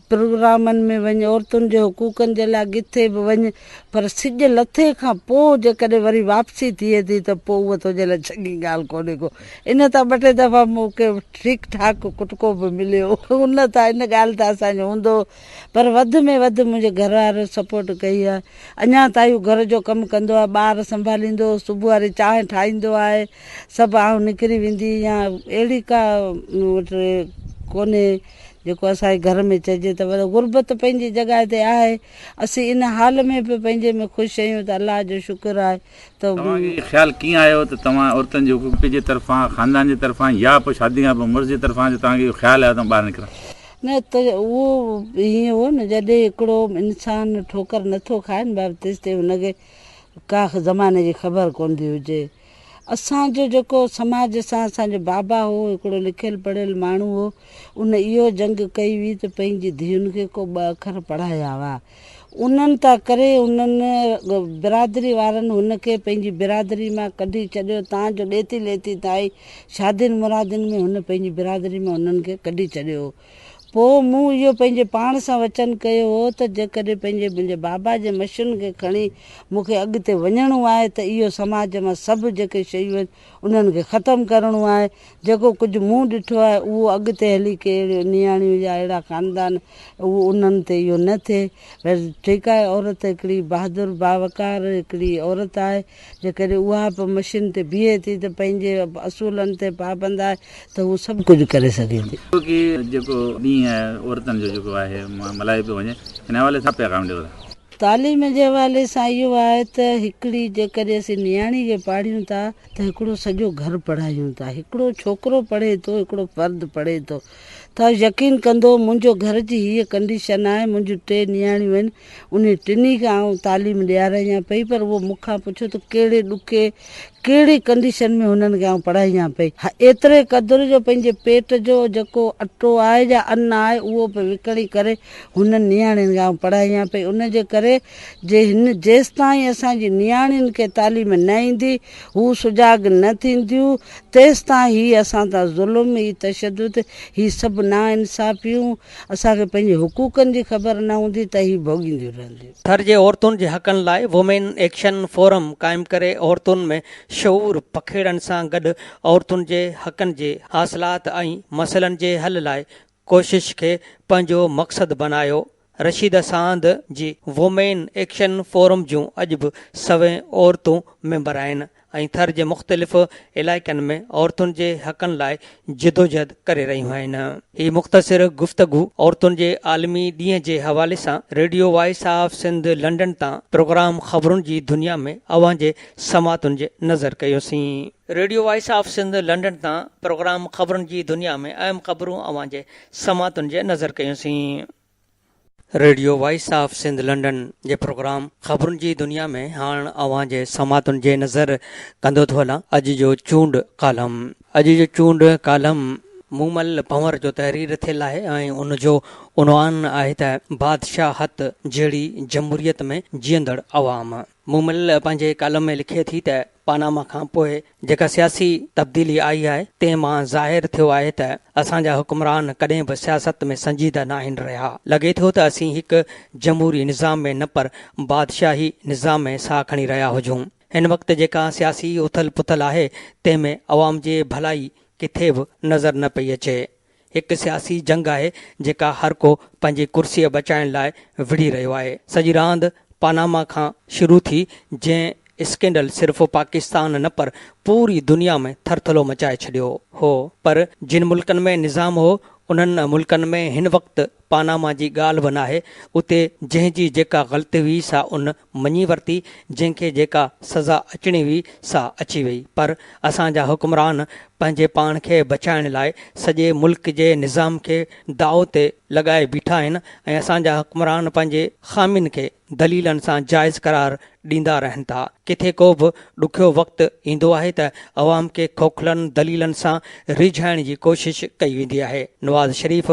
پروگرامن ۾ وڃ، عورتن جي حقوقن جي لاء ڪٿي به وڃ، پر سج لٿي کان پوء جيڪڏهن وري واپسي ٿئي ٿي ته پوء اها تنهنجي لاء چڱي ڳالهه ڪونهي ڪو. ان تان ٻه ٽي دفعا مون کي ٺيڪ ٺاڪ ڪٽڪو به مليو. ان تان ان ڳالهه تان اسان جو هوندو هو پر وڌ ۾ وڌ منهنجي گهر وارن سپورٽ ڪئي آهي. اڃا تائين هو گهر جو ڪم ڪندو آهي، ٻار سنڀاليندو، صبح واري چانهه ٺاهيندو آهي، سڀ آئون نڪري ويندي هيان، اهڙي ڪا مون وٽ ڪونهي. جيڪو اسان جي گهر ۾ چئجي ته وڏو غربت پنهنجي جڳهه تي آهي اسين ان حال ۾ به پنهنجي ۾ خوش اهيون ته الله جو شڪر آهي ته. توهان کي اهو خيال ڪيئن آيو ته توهان عورتن جي حقوقي جي طرفان خاندان جي طرفان يا پوء شادي کان پوء مرس جي طرفان جو توهان کي اهو خيال آيو ته آئون ٻاهر نڪران. نه ته اهو ائين هو نه جڏهن هڪڙو انسان ٺوڪر نٿو کائي نه بابا تيستائين هن کي ڪا زماني جي خبر ڪوندي هجي. اسان جو جيڪو سماج سان اسان جو بابا هو هڪڙو لکيل پڙهيل ماڻهو هو ان اهو جنگ ڪئي هئي ته پنهنجي ڌيئن کي ڪو ٻه اکر پڙهايا هئا انهن تا ڪري انهن برادري وارن هن کي پنهنجي برادري مان ڪڍي ڇڏيو تان جو ڏيتي ليتي تائين شادين مرادين ۾ هن پنهنجي برادري مان انهن کي ڪڍي ڇڏيو هو پوء مون اهو پنهنجي پاڻ سان وچن ڪيو هو ته جيڪڏهن پنهنجي منهنجي بابا جي مشين کي کڻي مون کي اڳتي وڃڻو آهي ته اهو سماج مان سڀ جيڪي شيون آهن انهن کي ختم ڪرڻو آهي. جيڪو ڪجهه مون ڏٺو آهي اهو اڳتي هلي ڪي اهڙيون نياڻيون يا اهڙا خاندان اهو انهن تي اهو نه ٿئي. ٺيڪ آهي عورت هڪڙي بهادر باوقار هڪڙي عورت آهي جيڪڏهن اها به مشين تي بيهي ٿي ته پنهنجي اصولن تي پابند آهي ته هوء سڀ ڪجهه ڪري سگهي ٿي. ڇو ڪي جيڪو ڏينهن آهي عورتن جو جيڪو آهي ملهايو پيو وڃي ان حوالي سان ڇا پيغام ڏيو ٿا؟ تعليم جي حوالي سان اهو آهي ته هڪڙي جيڪڏهن اسين نياڻي کي پاڙهيون ٿا ته هڪڙو سڄو گهر پڙهايون ٿا هڪڙو ڇوڪرو پڙهي ٿو هڪڙو فرد پڙهي ٿو ته يقين ڪندو منهنجو گهر جي هيء ڪنڊيشن آهي منهنجون ٽي نياڻيون آهن انهن ٽنهي کي آئون تعليم ڏياريان پئي پر اهو مون کان پڇيو ته ڪهڙي ڏکي ڪهڙي ڪنڊيشن ۾ هنن کي آئون پڙهايان پئي. ايتري قدر جو پنهنجي پيٽ جو جيڪو اٽو آهي يا ان آهي اهو به وڪڻي ڪري هنن نياڻين کي آئون پڙهايان پئي ان جي ڪري جي هن جيستائين اسان جي نياڻين کي تعليم نه ايندي هو سجاڳ نه ٿينديون تيستائين هي اسان تان ظلم هي تشدد هي سڀ ناانصافيون اسان کي پنهنجي حقوقن جي خبر نه هوندي ته هي ڀوڳينديون رهنديون. ٿر جي عورتن جي حقن لاء وومين ايڪشن فورم قائم ڪري عورتن ۾ شعور پکيڙڻ سان گڏ عورتن جي حقن جي حاصلات ۽ مسئلن جي حل لاء ڪوشش کي پنهنجو مقصد بنايو رشيده ساند جي وومين ايڪشن فورم جون اڄ به سوين عورتون ميمبر آهن ۽ ٿر جي مختلف علائقن ۾ عورتن جي حقن لاء جدوجھد ڪري رهيون آهن. هي مختصر گفتگو عورتن جي عالمي ڏينهن جي حوالي سان radio voice of Sindh London تان پروگرام خبرن جي دنيا ۾ اوهان جي سماعتن جي نظر ڪيوسين. Radio voice of Sindh London تان پروگرام خبرن جي دنيا ۾ اهم خبرون اوهان جي سماعتن جي نظر ڪيوسين. Radio voice of Sindh London جي پروگرام خبرن جي دنيا ۾ هاڻ اوهان جي سماعتن جي نظر ڪندو ٿو هلان اڄ جو چونڊ ڪالم اڄ جو چونڊ ڪالم مومل پنور جو تحرير ٿيل آهي ۽ ان جو عنوان آهي ته بادشاهت جهڙي جمهوريت ۾ جيئندڙ عوام. مومل پنهنجي ڪالم ۾ لکي ٿي ته پاناما کان پوء جيڪا سياسي تبديلي آئي آهي، تنهن مان ظاهر ٿيو آهي ته اسان جا حڪمران ڪڏهن به سياست ۾ سنجيده ناهن رهيا. لڳي ٿو ته اسين هڪ جمهوري نظام ۾ نه پر بادشاهي نظام ۾ ساهه کڻي رهيا هجون. هن وقت جيڪا سياسي اٿل پٿل آهي، تنهن ۾ عوام جي ڀلائي ڪٿي به نظر نه پئي اچي. هڪ سياسي جنگ آهي جيڪا هر ڪو پنهنجي ڪرسي بچائڻ لاء وڙهي رهيو آهي. سڄي راند پاناما کان شروع ٿي جنهن اسڪينڊل صرف پاڪستان نه پر پوري دنيا ۾ ٿرٿلو مچائي ڇڏيو هو پر جن ملڪن ۾ نظام هو انهن ملڪن ۾ هن وقت پاناما جي ڳالهه به ناهي اتي جنهن جي جيڪا غلطي هئي سا ان مڃي ورتي، جنهن کي جيڪا سزا اچڻي هئي سا اچي وئي، پر اسان جا حڪمران پنهنجي پاڻ کي بچائڻ لاء سڄي ملڪ جي نظام کي داء تي لڳائي بيٺا آهن ۽ اسان جا حڪمران پنهنجي خامين کي دليلن سان جائز قرار ڏيندا رهن ٿا. ڪٿي ڪو به ڏکيو وقت ايندو آهي ته عوام کي کوکلن دليلن سان ريجهائڻ جي ڪوشش ڪئي ويندي آهي. نواز شريف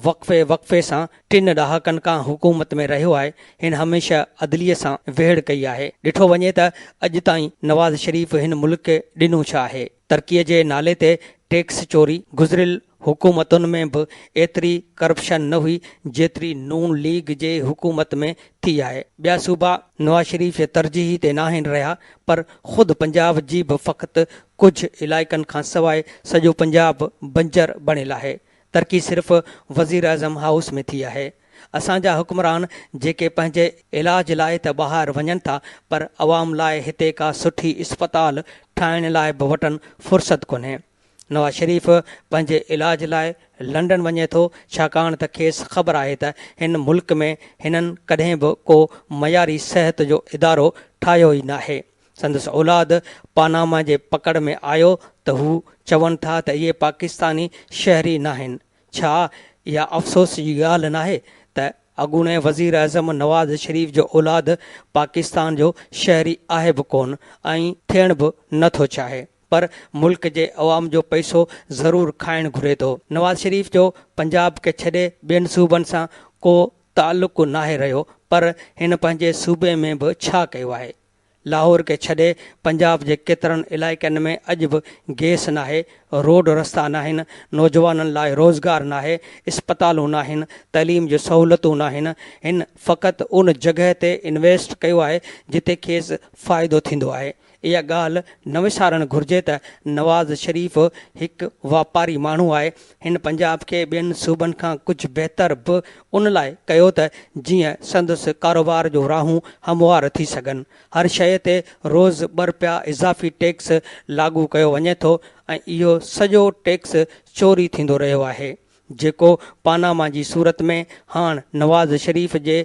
وقفي وقفي سان ٽن ڏهاڪن کان حڪومت ۾ رهيو آهي، هن هميشه عدليه سان ويڙهه ڪئي آهي، ڏٺو وڃي ته اڄ تائين نواز شريف هن ملڪ کي ڏنو ڇا آهي؟ ترقي جي نالي تي ٽيڪس چوري، گذريل حڪومتن ۾ به ايتري ڪرپشن نه هئي جيتري نون ليگ جي حڪومت ۾ ٿي آهي، ٻيا صوبا نواز شريف جي ترجيح تي ناهن رهيا پر خود پنجاب جي به فقط ڪجهه علائقن کانسواء سڄو پنجاب بنجر بڻيل آهي، ترقي صرف وزيراعظم هائوس ۾ ٿي آهي. اسان جا حڪمران جيڪي پنهنجي علاج لاء ته ٻاهر وڃن ٿا پر عوام لاء هتي ڪا سٺي اسپتال ٺاهڻ لاء به وٽن فرصت ڪونهي. نواز شريف پنهنجي علاج لاء لنڊن وڃي ٿو ڇاڪاڻ ته کيس خبر آهي ته هن ملڪ ۾ هنن ڪڏهن به ڪو معياري صحت جو ادارو ٺاهيو ئي ناهي. سندس اولاد پاناما جي پڪڙ ۾ آيو ته هو چون ٿا ته اهي پاڪستاني شهري ناهن. ڇا اها افسوس جي ڳالهه ناهي ته اڳوڻي وزيراعظم نواز شريف جو اولاد پاڪستان جو شهري آهي به ڪونه ۽ ٿيڻ به نه ٿو چاهي پر ملڪ جي عوام جو پئسو ضرور کائڻ گهري ٿو. نواز شريف جو پنجاب کي ڇڏي ٻين صوبن سان ڪو تعلق ناهي رهيو پر هن پنهنجي صوبي ۾ به ڇا ڪيو آهي؟ لاهور کي ڇڏي پنجاب جي ڪيترن علائقن ۾ اڄ به گيس ناهي، روڊ رستا ناهن، نوجوانن لاء روزگار ناهي، اسپتالون ناهن، تعليم جون سهولتون ناهن، هن فقط ان جڳهه تي انويسٽ ڪيو آهي جتي کيس فائدو ٿيندو آهي. اها ڳالهه نه وسارڻ گهرجي ته نواز شريف هڪ واپاري ماڻهو آهي، هن پنجاب کي ٻين صوبن کان ڪجهه بهتر به ان لاء ڪيو ته جيئن سندس ڪاروبار جو راهون هموار ٿي سگهن، هر شيء تي روز ٻه رپيا اضافي ٽيڪس لاڳو ڪيو وڃي ٿو ۽ اهو سڄو ٽيڪس چوري ٿيندو رهيو آهي، جيڪو پاناما جي صورت ۾ هاڻ نواز شريف جي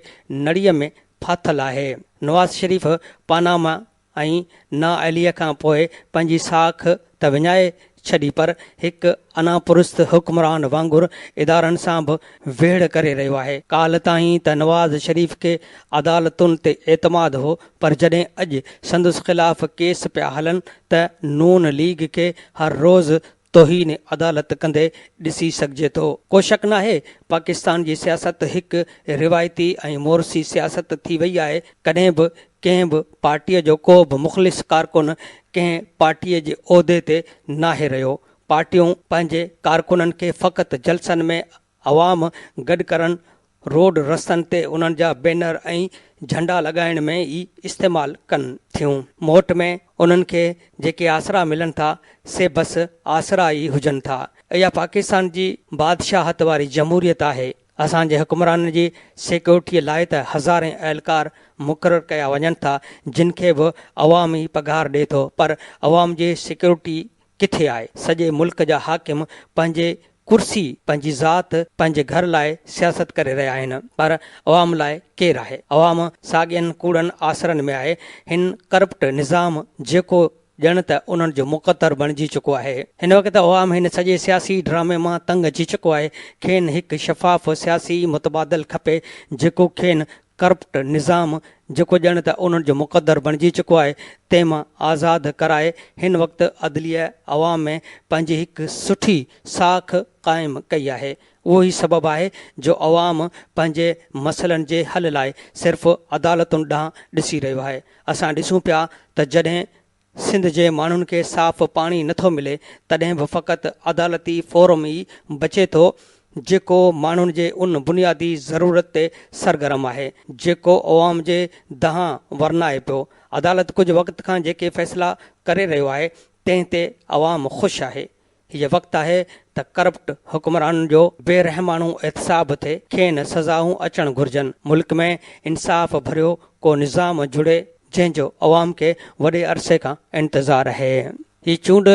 نڙيء ۾ ڦاٿل آهي. نواز شريف پاناما ۽ نااهليء کان پوء پنهنجي ساک ته وڃائي ڇڏي پر هڪ انا پرست حڪمران وانگر ادارن سان به ويڙهه ڪري رهيو آهي. ڪالهه تائين ته نواز شريف کي عدالتن تي اعتماد هو پر جڏهن اڄ سندس خلاف ڪيس پيا هلن ته نون ليگ کي هر روز توهين عدالت ڪندي ڏسي سگهجي ٿو. ڪو شڪ ناهي پاڪستان جي سياست هڪ روايتي ۽ مورثي سياست ٿي وئي آهي، ڪڏهن به ڪنهن به پارٽيء جو ڪو به مخلص ڪارڪن ڪنهن پارٽيء جي عهدي تي ناهي رهيو، پارٽيون پنهنجي ڪارڪنن کي فقط جلسن ۾ عوام گڏ ڪرڻ، روڊ رستن تي انهن جا بينر ۽ جهنڊا لڳائڻ ۾ ئي استعمال ڪن ٿيون. موٽ ۾ انهن کي جيڪي آسرا ملن ٿا، سي بس آسرا ئي هجن ٿا. اها پاڪستان جي بادشاهت واري جمهوريت آهي. اسان جي حڪمرانن جي سيڪيورٽيء لاء ته هزارين اهلڪار مقرر ڪيا وڃن ٿا، جن کي به عوام ئي پگهار ڏئي ٿو، پر عوام جي سيڪيورٽيء ڪٿي آهي؟ سڄي ملڪ جا حاڪم پنهنجي ڪرسي، پنهنجي ذات، پنهنجي گهر لاء سياست ڪري رهيا آهن پر عوام لاء ڪير آهي؟ عوام ساڳين ڪوڙن آسرن ۾ آهي. هن ڪرپٽ نظام جيڪو ڄڻ ته انهن جو مقدر بڻجي چڪو آهي. هن وقت عوام هن سڄي سياسي ڊرامي مان تنگ اچي چڪو آهي. کين هڪ شفاف سياسي متبادل کپي جيڪو کين ڪرپٽ نظام جيڪو ڄڻ ته انهن جو مقدر بڻجي چڪو آهي تنهن مان آزاد ڪرائي هن وقت عدليه عوام ۾ پنهنجي هڪ سٺي ساک قائم ڪئي آهي اهو ئي سبب آهي جو عوام پنهنجي مسئلن جي حل لاء صرف عدالتن ڏانهن ڏسي رهيو آهي اسان ڏسون پيا ته جڏهن سنڌ جي ماڻهن کي صاف پاڻي نٿو ملي تڏهن به فقط عدالتي فورم ئي بچي ٿو جيڪو ماڻهن جي ان بنيادي ضرورت تي سرگرم آهي جيڪو عوام جي دانهن ورنائي پيو. عدالت ڪجهه وقت کان جيڪي فيصلا ڪري رهيو آهي تنهن تي عوام خوش آهي. هيء وقت آهي ته ڪرپٽ حڪمرانن جو بي رحماڻو احتساب ٿئي، کين سزائون اچڻ گهرجن، ملڪ ۾ انصاف ڀريو ڪو نظام جڙي جنهن جو عوام کي وڏي عرصي کان انتظار آهي. هي چونڊ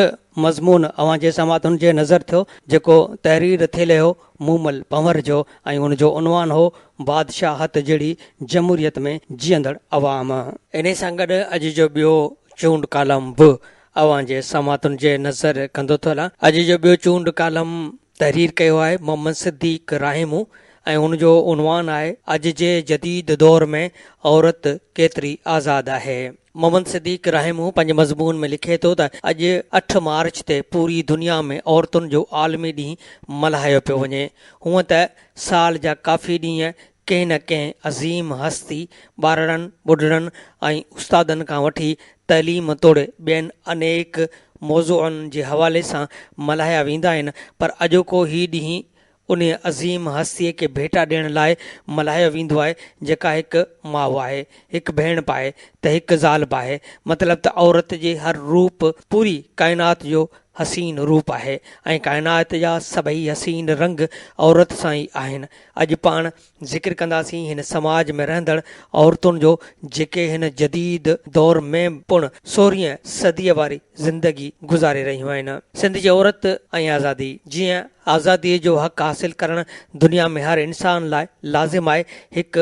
مضمون اوهان جي سماعتن جي نظر ٿيو جيڪو تحرير ٿيلهي هو مومل پنهور جو ۽ ان جو عنوان هو بادشاهت جهڙي جمهوريت ۾ جيئندڙ عوام. انهي سان گڏ اڄ جو ٻيو چونڊ ڪالم به اوهان جي سماعتن جي نظر ڪندو ٿو هلان. اڄ جو ٻيو چونڊ ڪالم تحرير ڪيو آهي محمد صديق راهيمو ۽ ان جو عنوان آهي اڄ جي جديد دور ۾ عورت ڪيتري آزاد آهي. محمد صديق راهيمو پنهنجي مضمون ۾ لکي ٿو ته اڄ اٺ مارچ تي پوري دنيا ۾ عورتن جو عالمي ڏينهن ملهايو پيو وڃي. هونئن ته سال جا ڪافي ڏينهن ڪنهن نه ڪنهن عظيم هستي، ٻارڙن، ٻڍڙن ۽ استادن کان وٺي تعليم توڙي ٻين انيڪ موضوعن جي حوالي سان ملهايا ويندا آهن پر اڄوڪو هي ڏينهن انهيء عظيم هستيء کي ڀيٽا ڏيڻ لاء ملهايو ويندو آهي جيڪا هڪ ماء آهي، هڪ ڀيڻ به آهي ته هڪ زال به آهي مطلب ته عورت جي هر روپ پوري ڪائنات جو حسين روپ آهي ۽ ڪائنات جا سڀئي حسين رنگ عورت سان ئي آهن. اڄ پاڻ ذڪر ڪنداسين هن سماج ۾ رهندڙ عورتن جو جيڪي هن جديد دور ۾ پڻ سورهين صديء واري زندگي گذاري رهيون آهن. سنڌ جي عورت ۽ آزادي، جيئن آزاديء جو حق حاصل ڪرڻ دنيا ۾ هر انسان لاء لازم آهي، هڪ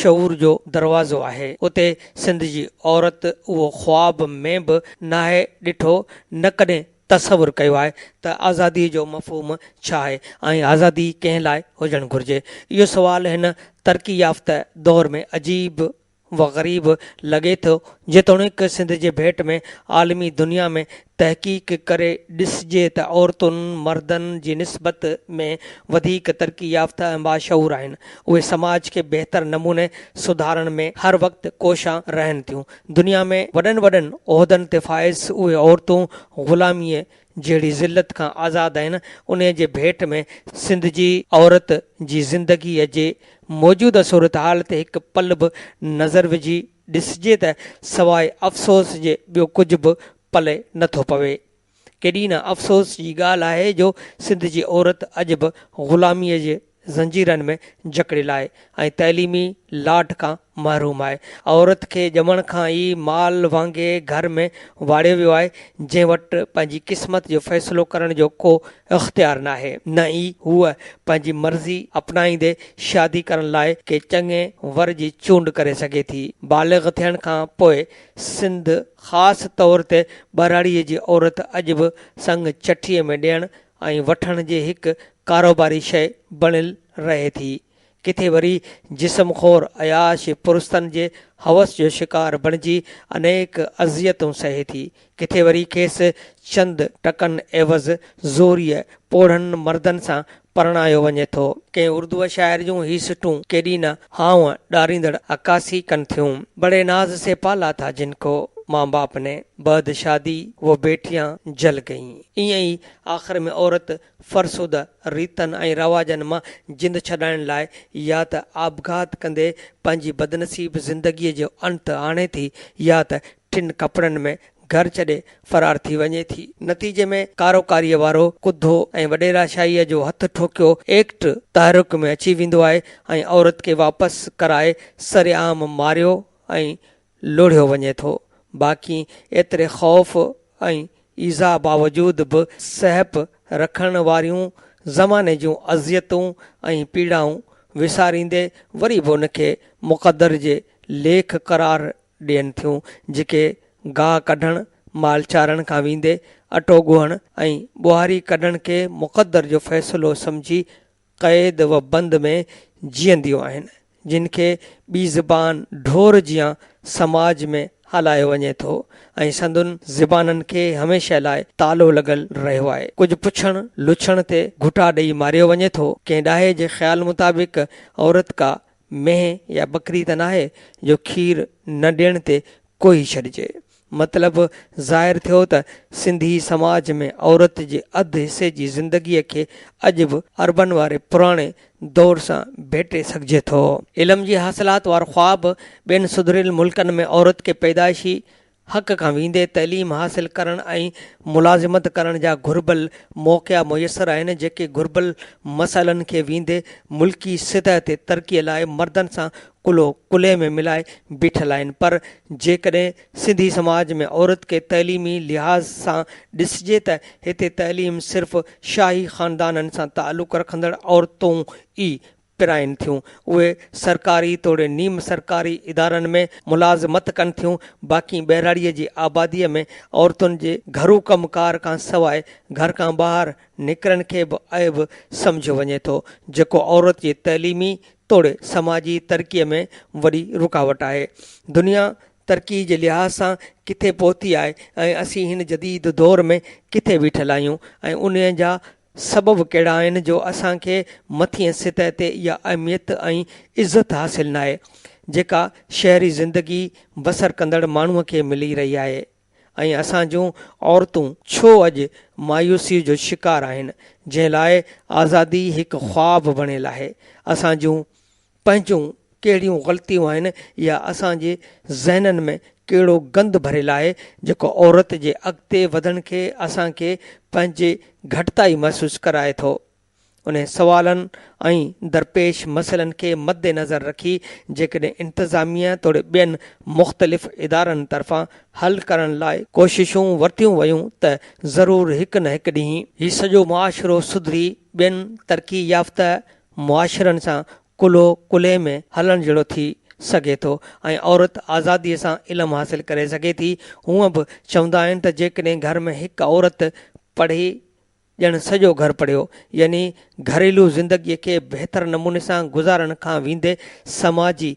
شعور جو دروازو آهي، اتي سنڌ جي عورت اهو خواب ۾ به ناهي ڏٺو نه ڪڏهن تصور ڪيو آهي ته آزادي جو مفهوم ڇا آهي ۽ آزادي ڪنهن لاء هجڻ گهرجي؟ اهو سوال هن ترقي يافته دور ۾ عجيب و غريب لڳي ٿو، جيتوڻيڪ سنڌ جي ڀيٽ ۾ عالمي دنيا ۾ تحقيق ڪري ڏسجي ته عورتن مردن جي نسبت ۾ وڌيڪ ترقي يافته ۽ باشعور آهن، اهي سماج کي بهتر نموني سڌارڻ ۾ هر وقت ڪوشان رهن ٿيون، دنيا ۾ وڏن وڏن عهدن تي فائز اهي عورتون غلاميء جهڙي ذلت کان آزاد آهن، انهيء جي ڀيٽ ۾ سنڌ جي عورت جي زندگيء جي موجوده صورتحال تي هڪ پل به نظر وجهي ڏسجي ته سواء افسوس جي ٻيو ڪجهه به پلئه نٿو پوي. ڪيڏي نه افسوس جي ڳالهه آهي جو سنڌ جي عورت اڄ به غلاميء جي زنجيرن ۾ جڪڙيل آهي ۽ تعليمي لاٽ کان محروم آهي. عورت کي ڄمڻ کان ئي مال وانگي گهر ۾ واڙيو ويو آهي، جنهن وٽ پنهنجي قسمت جو فيصلو ڪرڻ جو ڪو اختيار ناهي، نه ئي هوء پنهنجي مرضي اپنائيندي شادي ڪرڻ لاء ڪنهن چڱي ور جي چونڊ ڪري سگهي ٿي. بالغ ٿيڻ کان پوء سنڌ خاص طور تي ٻهراڙيء جي عورت اڄ به سڱ چٺيء ۾ ڏيڻ ۽ وٺڻ جي هڪ ڪاروباري شيء بڻيل رهي ٿي. ڪٿي وري جسم خور عياش پرستن جي هوس جو شڪار بڻجي انيڪ اذيتون سهي ٿي. ڪٿي وري کيس چند ٽڪن عيوض زوريء پوڙهن مردن سان پرڻايو وڃي ٿو. ڪنهن اردوء شاعر جون هي سٽون ڪيڏي نه هانء ڏاريندڙ عڪاسي ڪن ٿيون. بڙي ناز سي پالا ٿا جن ڪو، ماء باپ ني بعد شادي وو بيٽيان جل گئين. ائين ئي آخر ۾ عورت فرسوده ريتن ۽ رواجن مان جند ڇڏائڻ لاء يا ته آپگهات ڪندي پنهنجي بدنصيب زندگيء جو انت آڻي ٿي يا ته ٽن ڪپڙن ۾ گهر ڇڏي فرار ٿي وڃي ٿي. نتيجي ۾ ڪاروڪاريء وارو ڪڌو ۽ وڏيراشاهيء جو هٿ ٺوڪيو ايڪٽ تحرڪ ۾ اچي ويندو آهي ۽ عورت کي واپس ڪرائي سرعام ماريو ۽ لوڙهيو وڃي ٿو. باقي ايتري خوف ۽ ايذاء باوجود به سهپ رکڻ واريون زماني جون اذيتون ۽ پيڙائون وساريندي وري به ان کي مقدر جي ليک قرار ڏين ٿيون، جيڪي گاهه ڪڍڻ، مال چارڻ کان ويندي اٽو ڳوهڻ ۽ ٻهاري ڪڍڻ کي مقدر جو فيصلو سمجهي قيد و بند ۾ جيئنديون آهن، جن کي ٻي زبان ڍور جيان سماج ۾ هلايو وڃي ٿو ۽ سندن زبانن کي هميشه لاء تالو لڳل رهيو آهي. ڪجهه پڇڻ لڇڻ تي گهٽا ڏئي ماريو وڃي ٿو. ڪنهن ڏاهي جي خيال مطابق عورت ڪا مينهن يا ٻڪري ته ناهي جو کير نه ڏيڻ تي ڪوهي ڇڏجي. مطلب ظاهر ٿيو ته سنڌي سماج ۾ عورت جي اڌ حصي جي زندگيء کي اڄ به عربن واري پراڻي دور سان ڀيٽي سگهجي ٿو. علم جي حاصلات وارو خواب ٻين سڌريل ملڪن ۾ عورت کي پيدائشي حق کان ويندي تعليم حاصل ڪرڻ ۽ ملازمت ڪرڻ جا گهربل موقعا ميسر آهن جيڪي گهربل مسئلن کي ويندي ملڪي سطح تي ترقي لاء مردن سان ڪلهو ڪلهي ۾ ملائي بيٺل آهن پر جيڪڏهن سنڌي سماج ۾ عورت کي تعليمي لحاظ سان ڏسجي ته هتي تعليم صرف شاهي خاندانن سان تعلق رکندڙ عورتون ئي پرائن ٿيون، اهي سرڪاري توڙي نيم سرڪاري ادارن ۾ ملازمت ڪن ٿيون، باقي ٻهراڙيء جي آباديء ۾ عورتن جي گهرو ڪم ڪار کان سواء گهر کان ٻاهر نڪرڻ کي به عيب سمجهيو وڃي ٿو، جيڪو عورت جي تعليمي توڙي سماجي ترقيء ۾ وڏي رڪاوٽ آهي. دنيا ترقيء جي لحاظ سان ڪٿي پهتي آهي ۽ اسين هن جديد دور ۾ ڪٿي بيٺل آهيون ۽ انهيء جا سبب ڪهڙا آهن جو اسان کي مٿينء سطح تي اها اهميت ۽ عزت حاصل ناهي جيڪا شهري زندگي بسر ڪندڙ ماڻهوء کي ملي رهي آهي ۽ اسان جون عورتون ڇو اڄ مايوسيء جو شڪار آهن جنهن لاء آزادي هڪ خواب بڻيل آهي اسان جون پنهنجون ڪهڙيون غلطيون آهن يا اسان جي ذهنن ۾ ڪهڙو گند ڀريل آهي جيڪو عورت جي اڳتي وڌڻ کي اسان کي پنهنجي گهٽتائي محسوس ڪرائي ٿو. انهن سوالن ۽ درپيش مسئلن کي مدنظر رکي جيڪڏهن انتظاميه توڙي ٻين مختلف ادارن طرفان حل ڪرڻ لاء ڪوششون ورتيون ويون ته ضرور هڪ نه هڪ ڏينهن. هي سڄو معاشرو سڌري ٻين ترقي يافته معاشرن سان ڪلهو ڪلهي ۾ هلڻ جهڙو ٿي سگهي ٿو ۽ عورت آزادي سان علم حاصل ڪري سگهي ٿي. هونء به چوندا آهن ته جيڪڏهن گهر ۾ هڪ عورت پڙهي ڄڻ سڄو گهر پڙهيو. يعني گهريلو زندگي کي بهتر نموني سان گذارڻ کان ويندي سماجي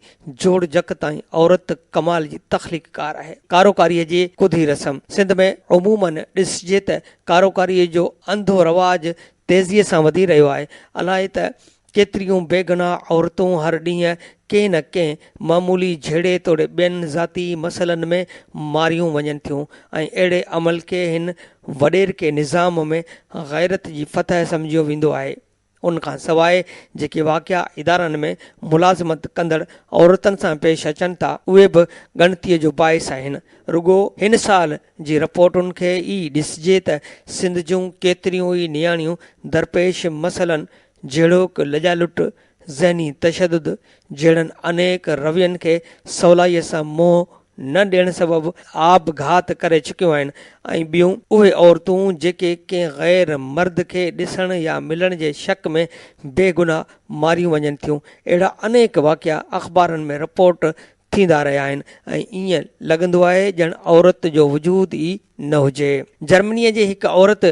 جوڙجڪ تائين عورت ڪمال جي تخليق ڪار آهي. ڪاروڪاريء جي ڪڌي رسم، سنڌ ۾ عموماً ڏسجي ته ڪاروڪاريء جو انڌو رواج تيزيء سان وڌي رهيو آهي. الائي ته ڪيتريون بيگناهه عورتون هر ڏينهن ڪنهن نه ڪنهن معمولي جهيڙي توڙي ٻين ذاتي مسئلن ۾ ماريون وڃن ٿيون ۽ اهڙي عمل کي هن وڏيرڪي نظام ۾ غيرت جي فتح سمجهيو ويندو آهي. ان کان سواء جيڪي واقعا ادارن ۾ ملازمت ڪندڙ عورتن سان پيش اچن ٿا، اهي به ڳڻتيء جو باعث آهن. رڳو هن سال جي رپورٽن کي ئي ڏسجي ته سنڌ جون ڪيتريون ئي نياڻيون درپيش مسئلن جهڙوڪ لڄا لٽ، ذهني تشدد جهڙن انيڪ روين کي سولائيء سان منهن نه ڏيڻ سبب آپگهات ڪري چڪيون آهن ۽ ٻيون اهي عورتون جيڪي ڪنهن غير مرد کي ڏسڻ يا ملڻ جي شڪ ۾ بي گناهه ماريون وڃن ٿيون اهڙا انيڪ واقعا اخبارن ۾ رپورٽ ٿيندا رهيا آهن ۽ ائين لڳندو آهي ڄڻ عورت جو وجود ئي نه هجي. جرمنيء جي هڪ عورت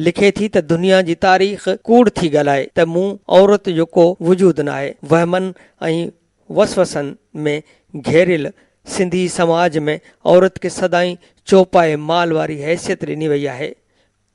لکي ٿي ته دنيا جي تاريخ ڪوڙ ٿي ڳالهائي ته مون عورت جو ڪو وجود ناهي. وهمن ۽ وسوسن ۾ گهيريل سنڌي سماج ۾ عورت کي سدائين چوپائي مال واري حيثيت ڏني وئي آهي.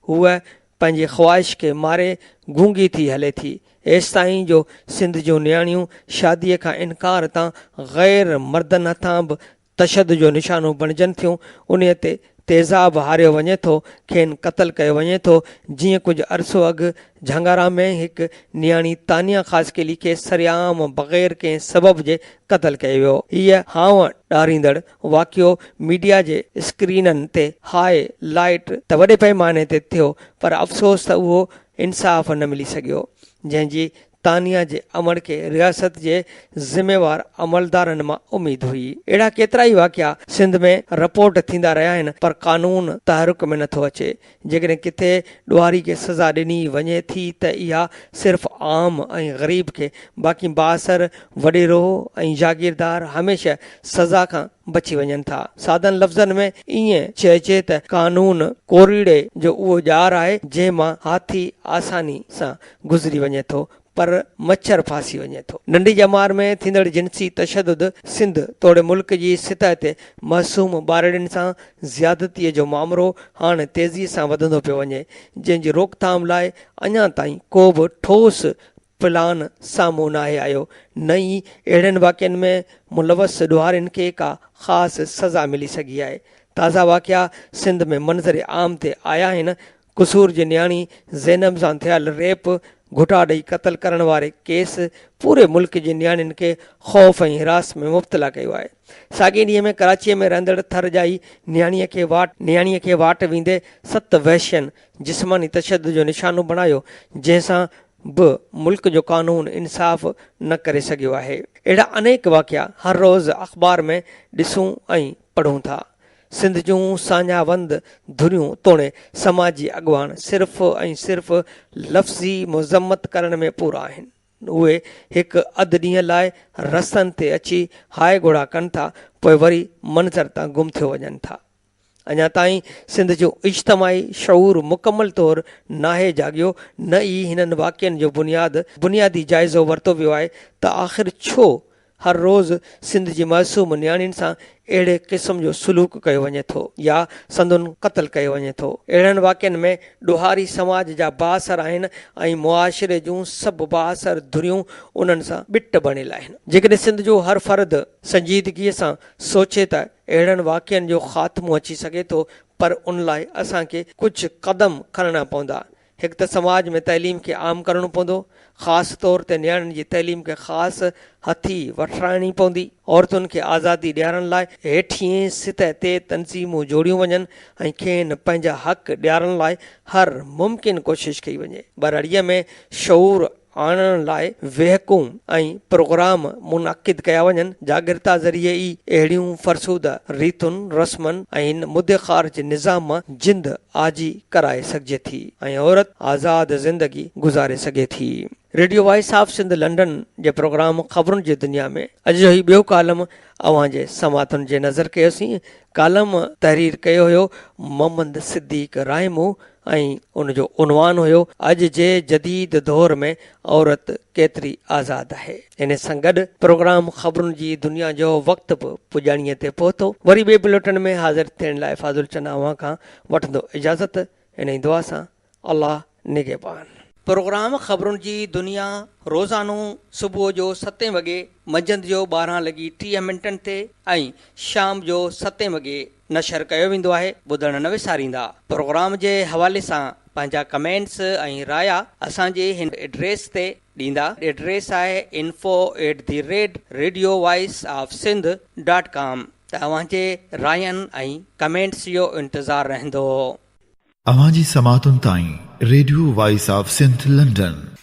هوء پنهنجي خواهش کي ماري گونگي ٿي هلي ٿي، ايستائين جو سنڌ جون نياڻيون شاديء کان انڪار تان غير مردن هٿان به تشدد جو نشانو بڻجن ٿيون، انهيء تي تيزاب هاريو وڃي ٿو، کين قتل ڪيو وڃي ٿو، جيئن ڪجهه عرصو اڳ جهنگارا ۾ هڪ نياڻي تانيا خاصخيلي کي سرعام بغير ڪنهن سبب جي قتل ڪيو ويو. هيء هانء ڏاريندڙ واقعو ميڊيا جي اسڪرينن تي هاء لائيٽ ته وڏي پئماني تي ٿيو پر افسوس ته اهو انصاف نه ملي سگهيو جنهن جي تانيا جي امڙ کي رياست جي ذميوار عملدارن مان اميد هئي. اهڙا ڪيترائي واقعا سنڌ ۾ رپورٽ ٿيندا رهيا آهن پر قانون تحرڪ ۾ نه ٿو اچي جيڪڏهن ڪٿي ڏوهاري کي سزا ڏني وڃي ٿي ته اها صرف عام ۽ غريب کي باقي بااثر وڏيرو ۽ جاگيردار هميشه سزا کان بچي وڃن ٿا. سادن لفظن ۾ ائين چئجي ته قانون ڪوريڙي جو اهو ڄار آهي جنهن مان هاٿي آساني سان گذري وڃي ٿو پر مڇر ڦاسي وڃي ٿو. ننڍي ڄمار ۾ ٿيندڙ جنسي تشدد سنڌ توڙي ملڪ جي سطح تي معصوم ٻارڙين سان زيادتيء جو مامرو هاڻ تيزيء سان وڌندو پيو وڃي، جنهن جي روڪٿام لاء اڃا تائين ڪو به ٺوس پلان سامهون ناهي آيو، نه ئي اهڙين واقعن ۾ ملوث ڏوهارين کي ڪا خاص سزا ملي سگهي آهي. تازا واقعا سنڌ ۾ منظر عام تي آيا آهن، قصور جي نياڻي زينب سان ٿيل ريپ، گهٽا ڏئي قتل ڪرڻ واري ڪيس پوري ملڪ جي نياڻين کي خوف ۽ هراس ۾ مبتلا ڪيو آهي. ساڳئي ڏينهن ۾ ڪراچيء ۾ رهندڙ ٿر ڄائي نياڻيء کي واٽ نياڻيء کي واٽ ويندي ست وحشين جسماني تشدد جو نشانو بڻايو جنهن سان به ملڪ جو قانون انصاف نه ڪري سگهيو آهي. اهڙا انيڪ واقعا هر روز اخبار ۾ ڏسون ۽ پڙهون ٿا. سنڌ جون ساڃاهوند ڌريون توڻي سماجي اڳواڻ صرف ۽ صرف لفظي مذمت ڪرڻ ۾ پورا آهن. اهي هڪ اڌ ڏينهن لاء رستن تي اچي هاء گهوڙا ڪن ٿا پوء وري منظر تان گم ٿيو وڃن ٿا. اڃا تائين سنڌ جو اجتماعي شعور مڪمل طور ناهي جاڳيو نه ئي هنن واقعن جو بنياد بنيادي جائزو ورتو ويو آهي ته آخر ڇو هر روز سنڌ جي معصوم نياڻين سان اهڙي قسم جو سلوڪ ڪيو وڃي ٿو يا سندن قتل ڪيو وڃي ٿو. اهڙن واقعن ۾ ڏوهاري سماج جا بااثر آهن ۽ معاشري جون سڀ بااثر ڌريون انهن سان ٻٽ بڻيل آهن. جيڪڏهن سنڌ جو هر فرد سنجيدگيء سان سوچي ته اهڙن واقعن جو خاتمو اچي سگهي ٿو پر ان لاء اسان کي ڪجهه قدم کڻڻا پوندا هڪ ته سماج ۾ تعليم کي عام ڪرڻو پوندو، خاص طور تي نياڻين جي تعليم کي خاص هٿي وٺرائڻي پوندي. عورتن کي آزادي ڏيارڻ لاء هيٺينء سطح تي تنظيمون جوڙيون وڃن ۽ کين پنهنجا حق ڏيارڻ لاء هر ممڪن ڪوشش ڪئي وڃي. ٻرڙيء ۾ شعور آڻڻ لاء ويهڪون ۽ پروگرام منعقد ڪيا وڃن، جاڳرتا ذريعي ئي اهڙيون فرسوده ريتن، رسمن ۽ هن مدي خارج نظام مان جند آجي ڪرائي سگهجي ٿي ۽ عورت آزاد زندگي گذاري سگهي ٿي. Radio voice of Sindh London جي پروگرام خبرن جي دنيا ۾ اڄ جو هي ٻيو ڪالم اوهان جي سماعتن جي نظر ڪيوسين. ڪالم تحرير ڪيو هيو محمد صديق رائمو ۽ ان جو عنوان هيو اڄ جي جديد دور ۾ عورت ڪيتري آزاد آهي. ان سان گڏ پروگرام خبرن جي دنيا جو وقت به پڄاڻيء تي پهتو. وري ٻئي بليٽن ۾ حاضر ٿيڻ لاء فاضل چنا اوهان کان وٺندو اجازت انهي دعا سان الله نگهبان. پروگرام خبرن جي دنيا روزانو صبح جو ستين وڳي، منجهند جو ٻارهن لڳي ٽيهه منٽن تي ۽ شام جو ستين وڳي، نشر ڪيو ويندو آهي ٻڌڻ نه وساريندا. پروگرام جي حوالي سان پنهنجا ڪمينٽس ۽ رايا اسان جي هن ايڊريس تي ڏيندا ايڊريس آهي info at the rate radio voice of Sindh dot com ته اوهان جي راين ۽ ڪمينٽس جو انتظار رهندو. اوهان جي سماعتن تائين radio voice of Sindh London.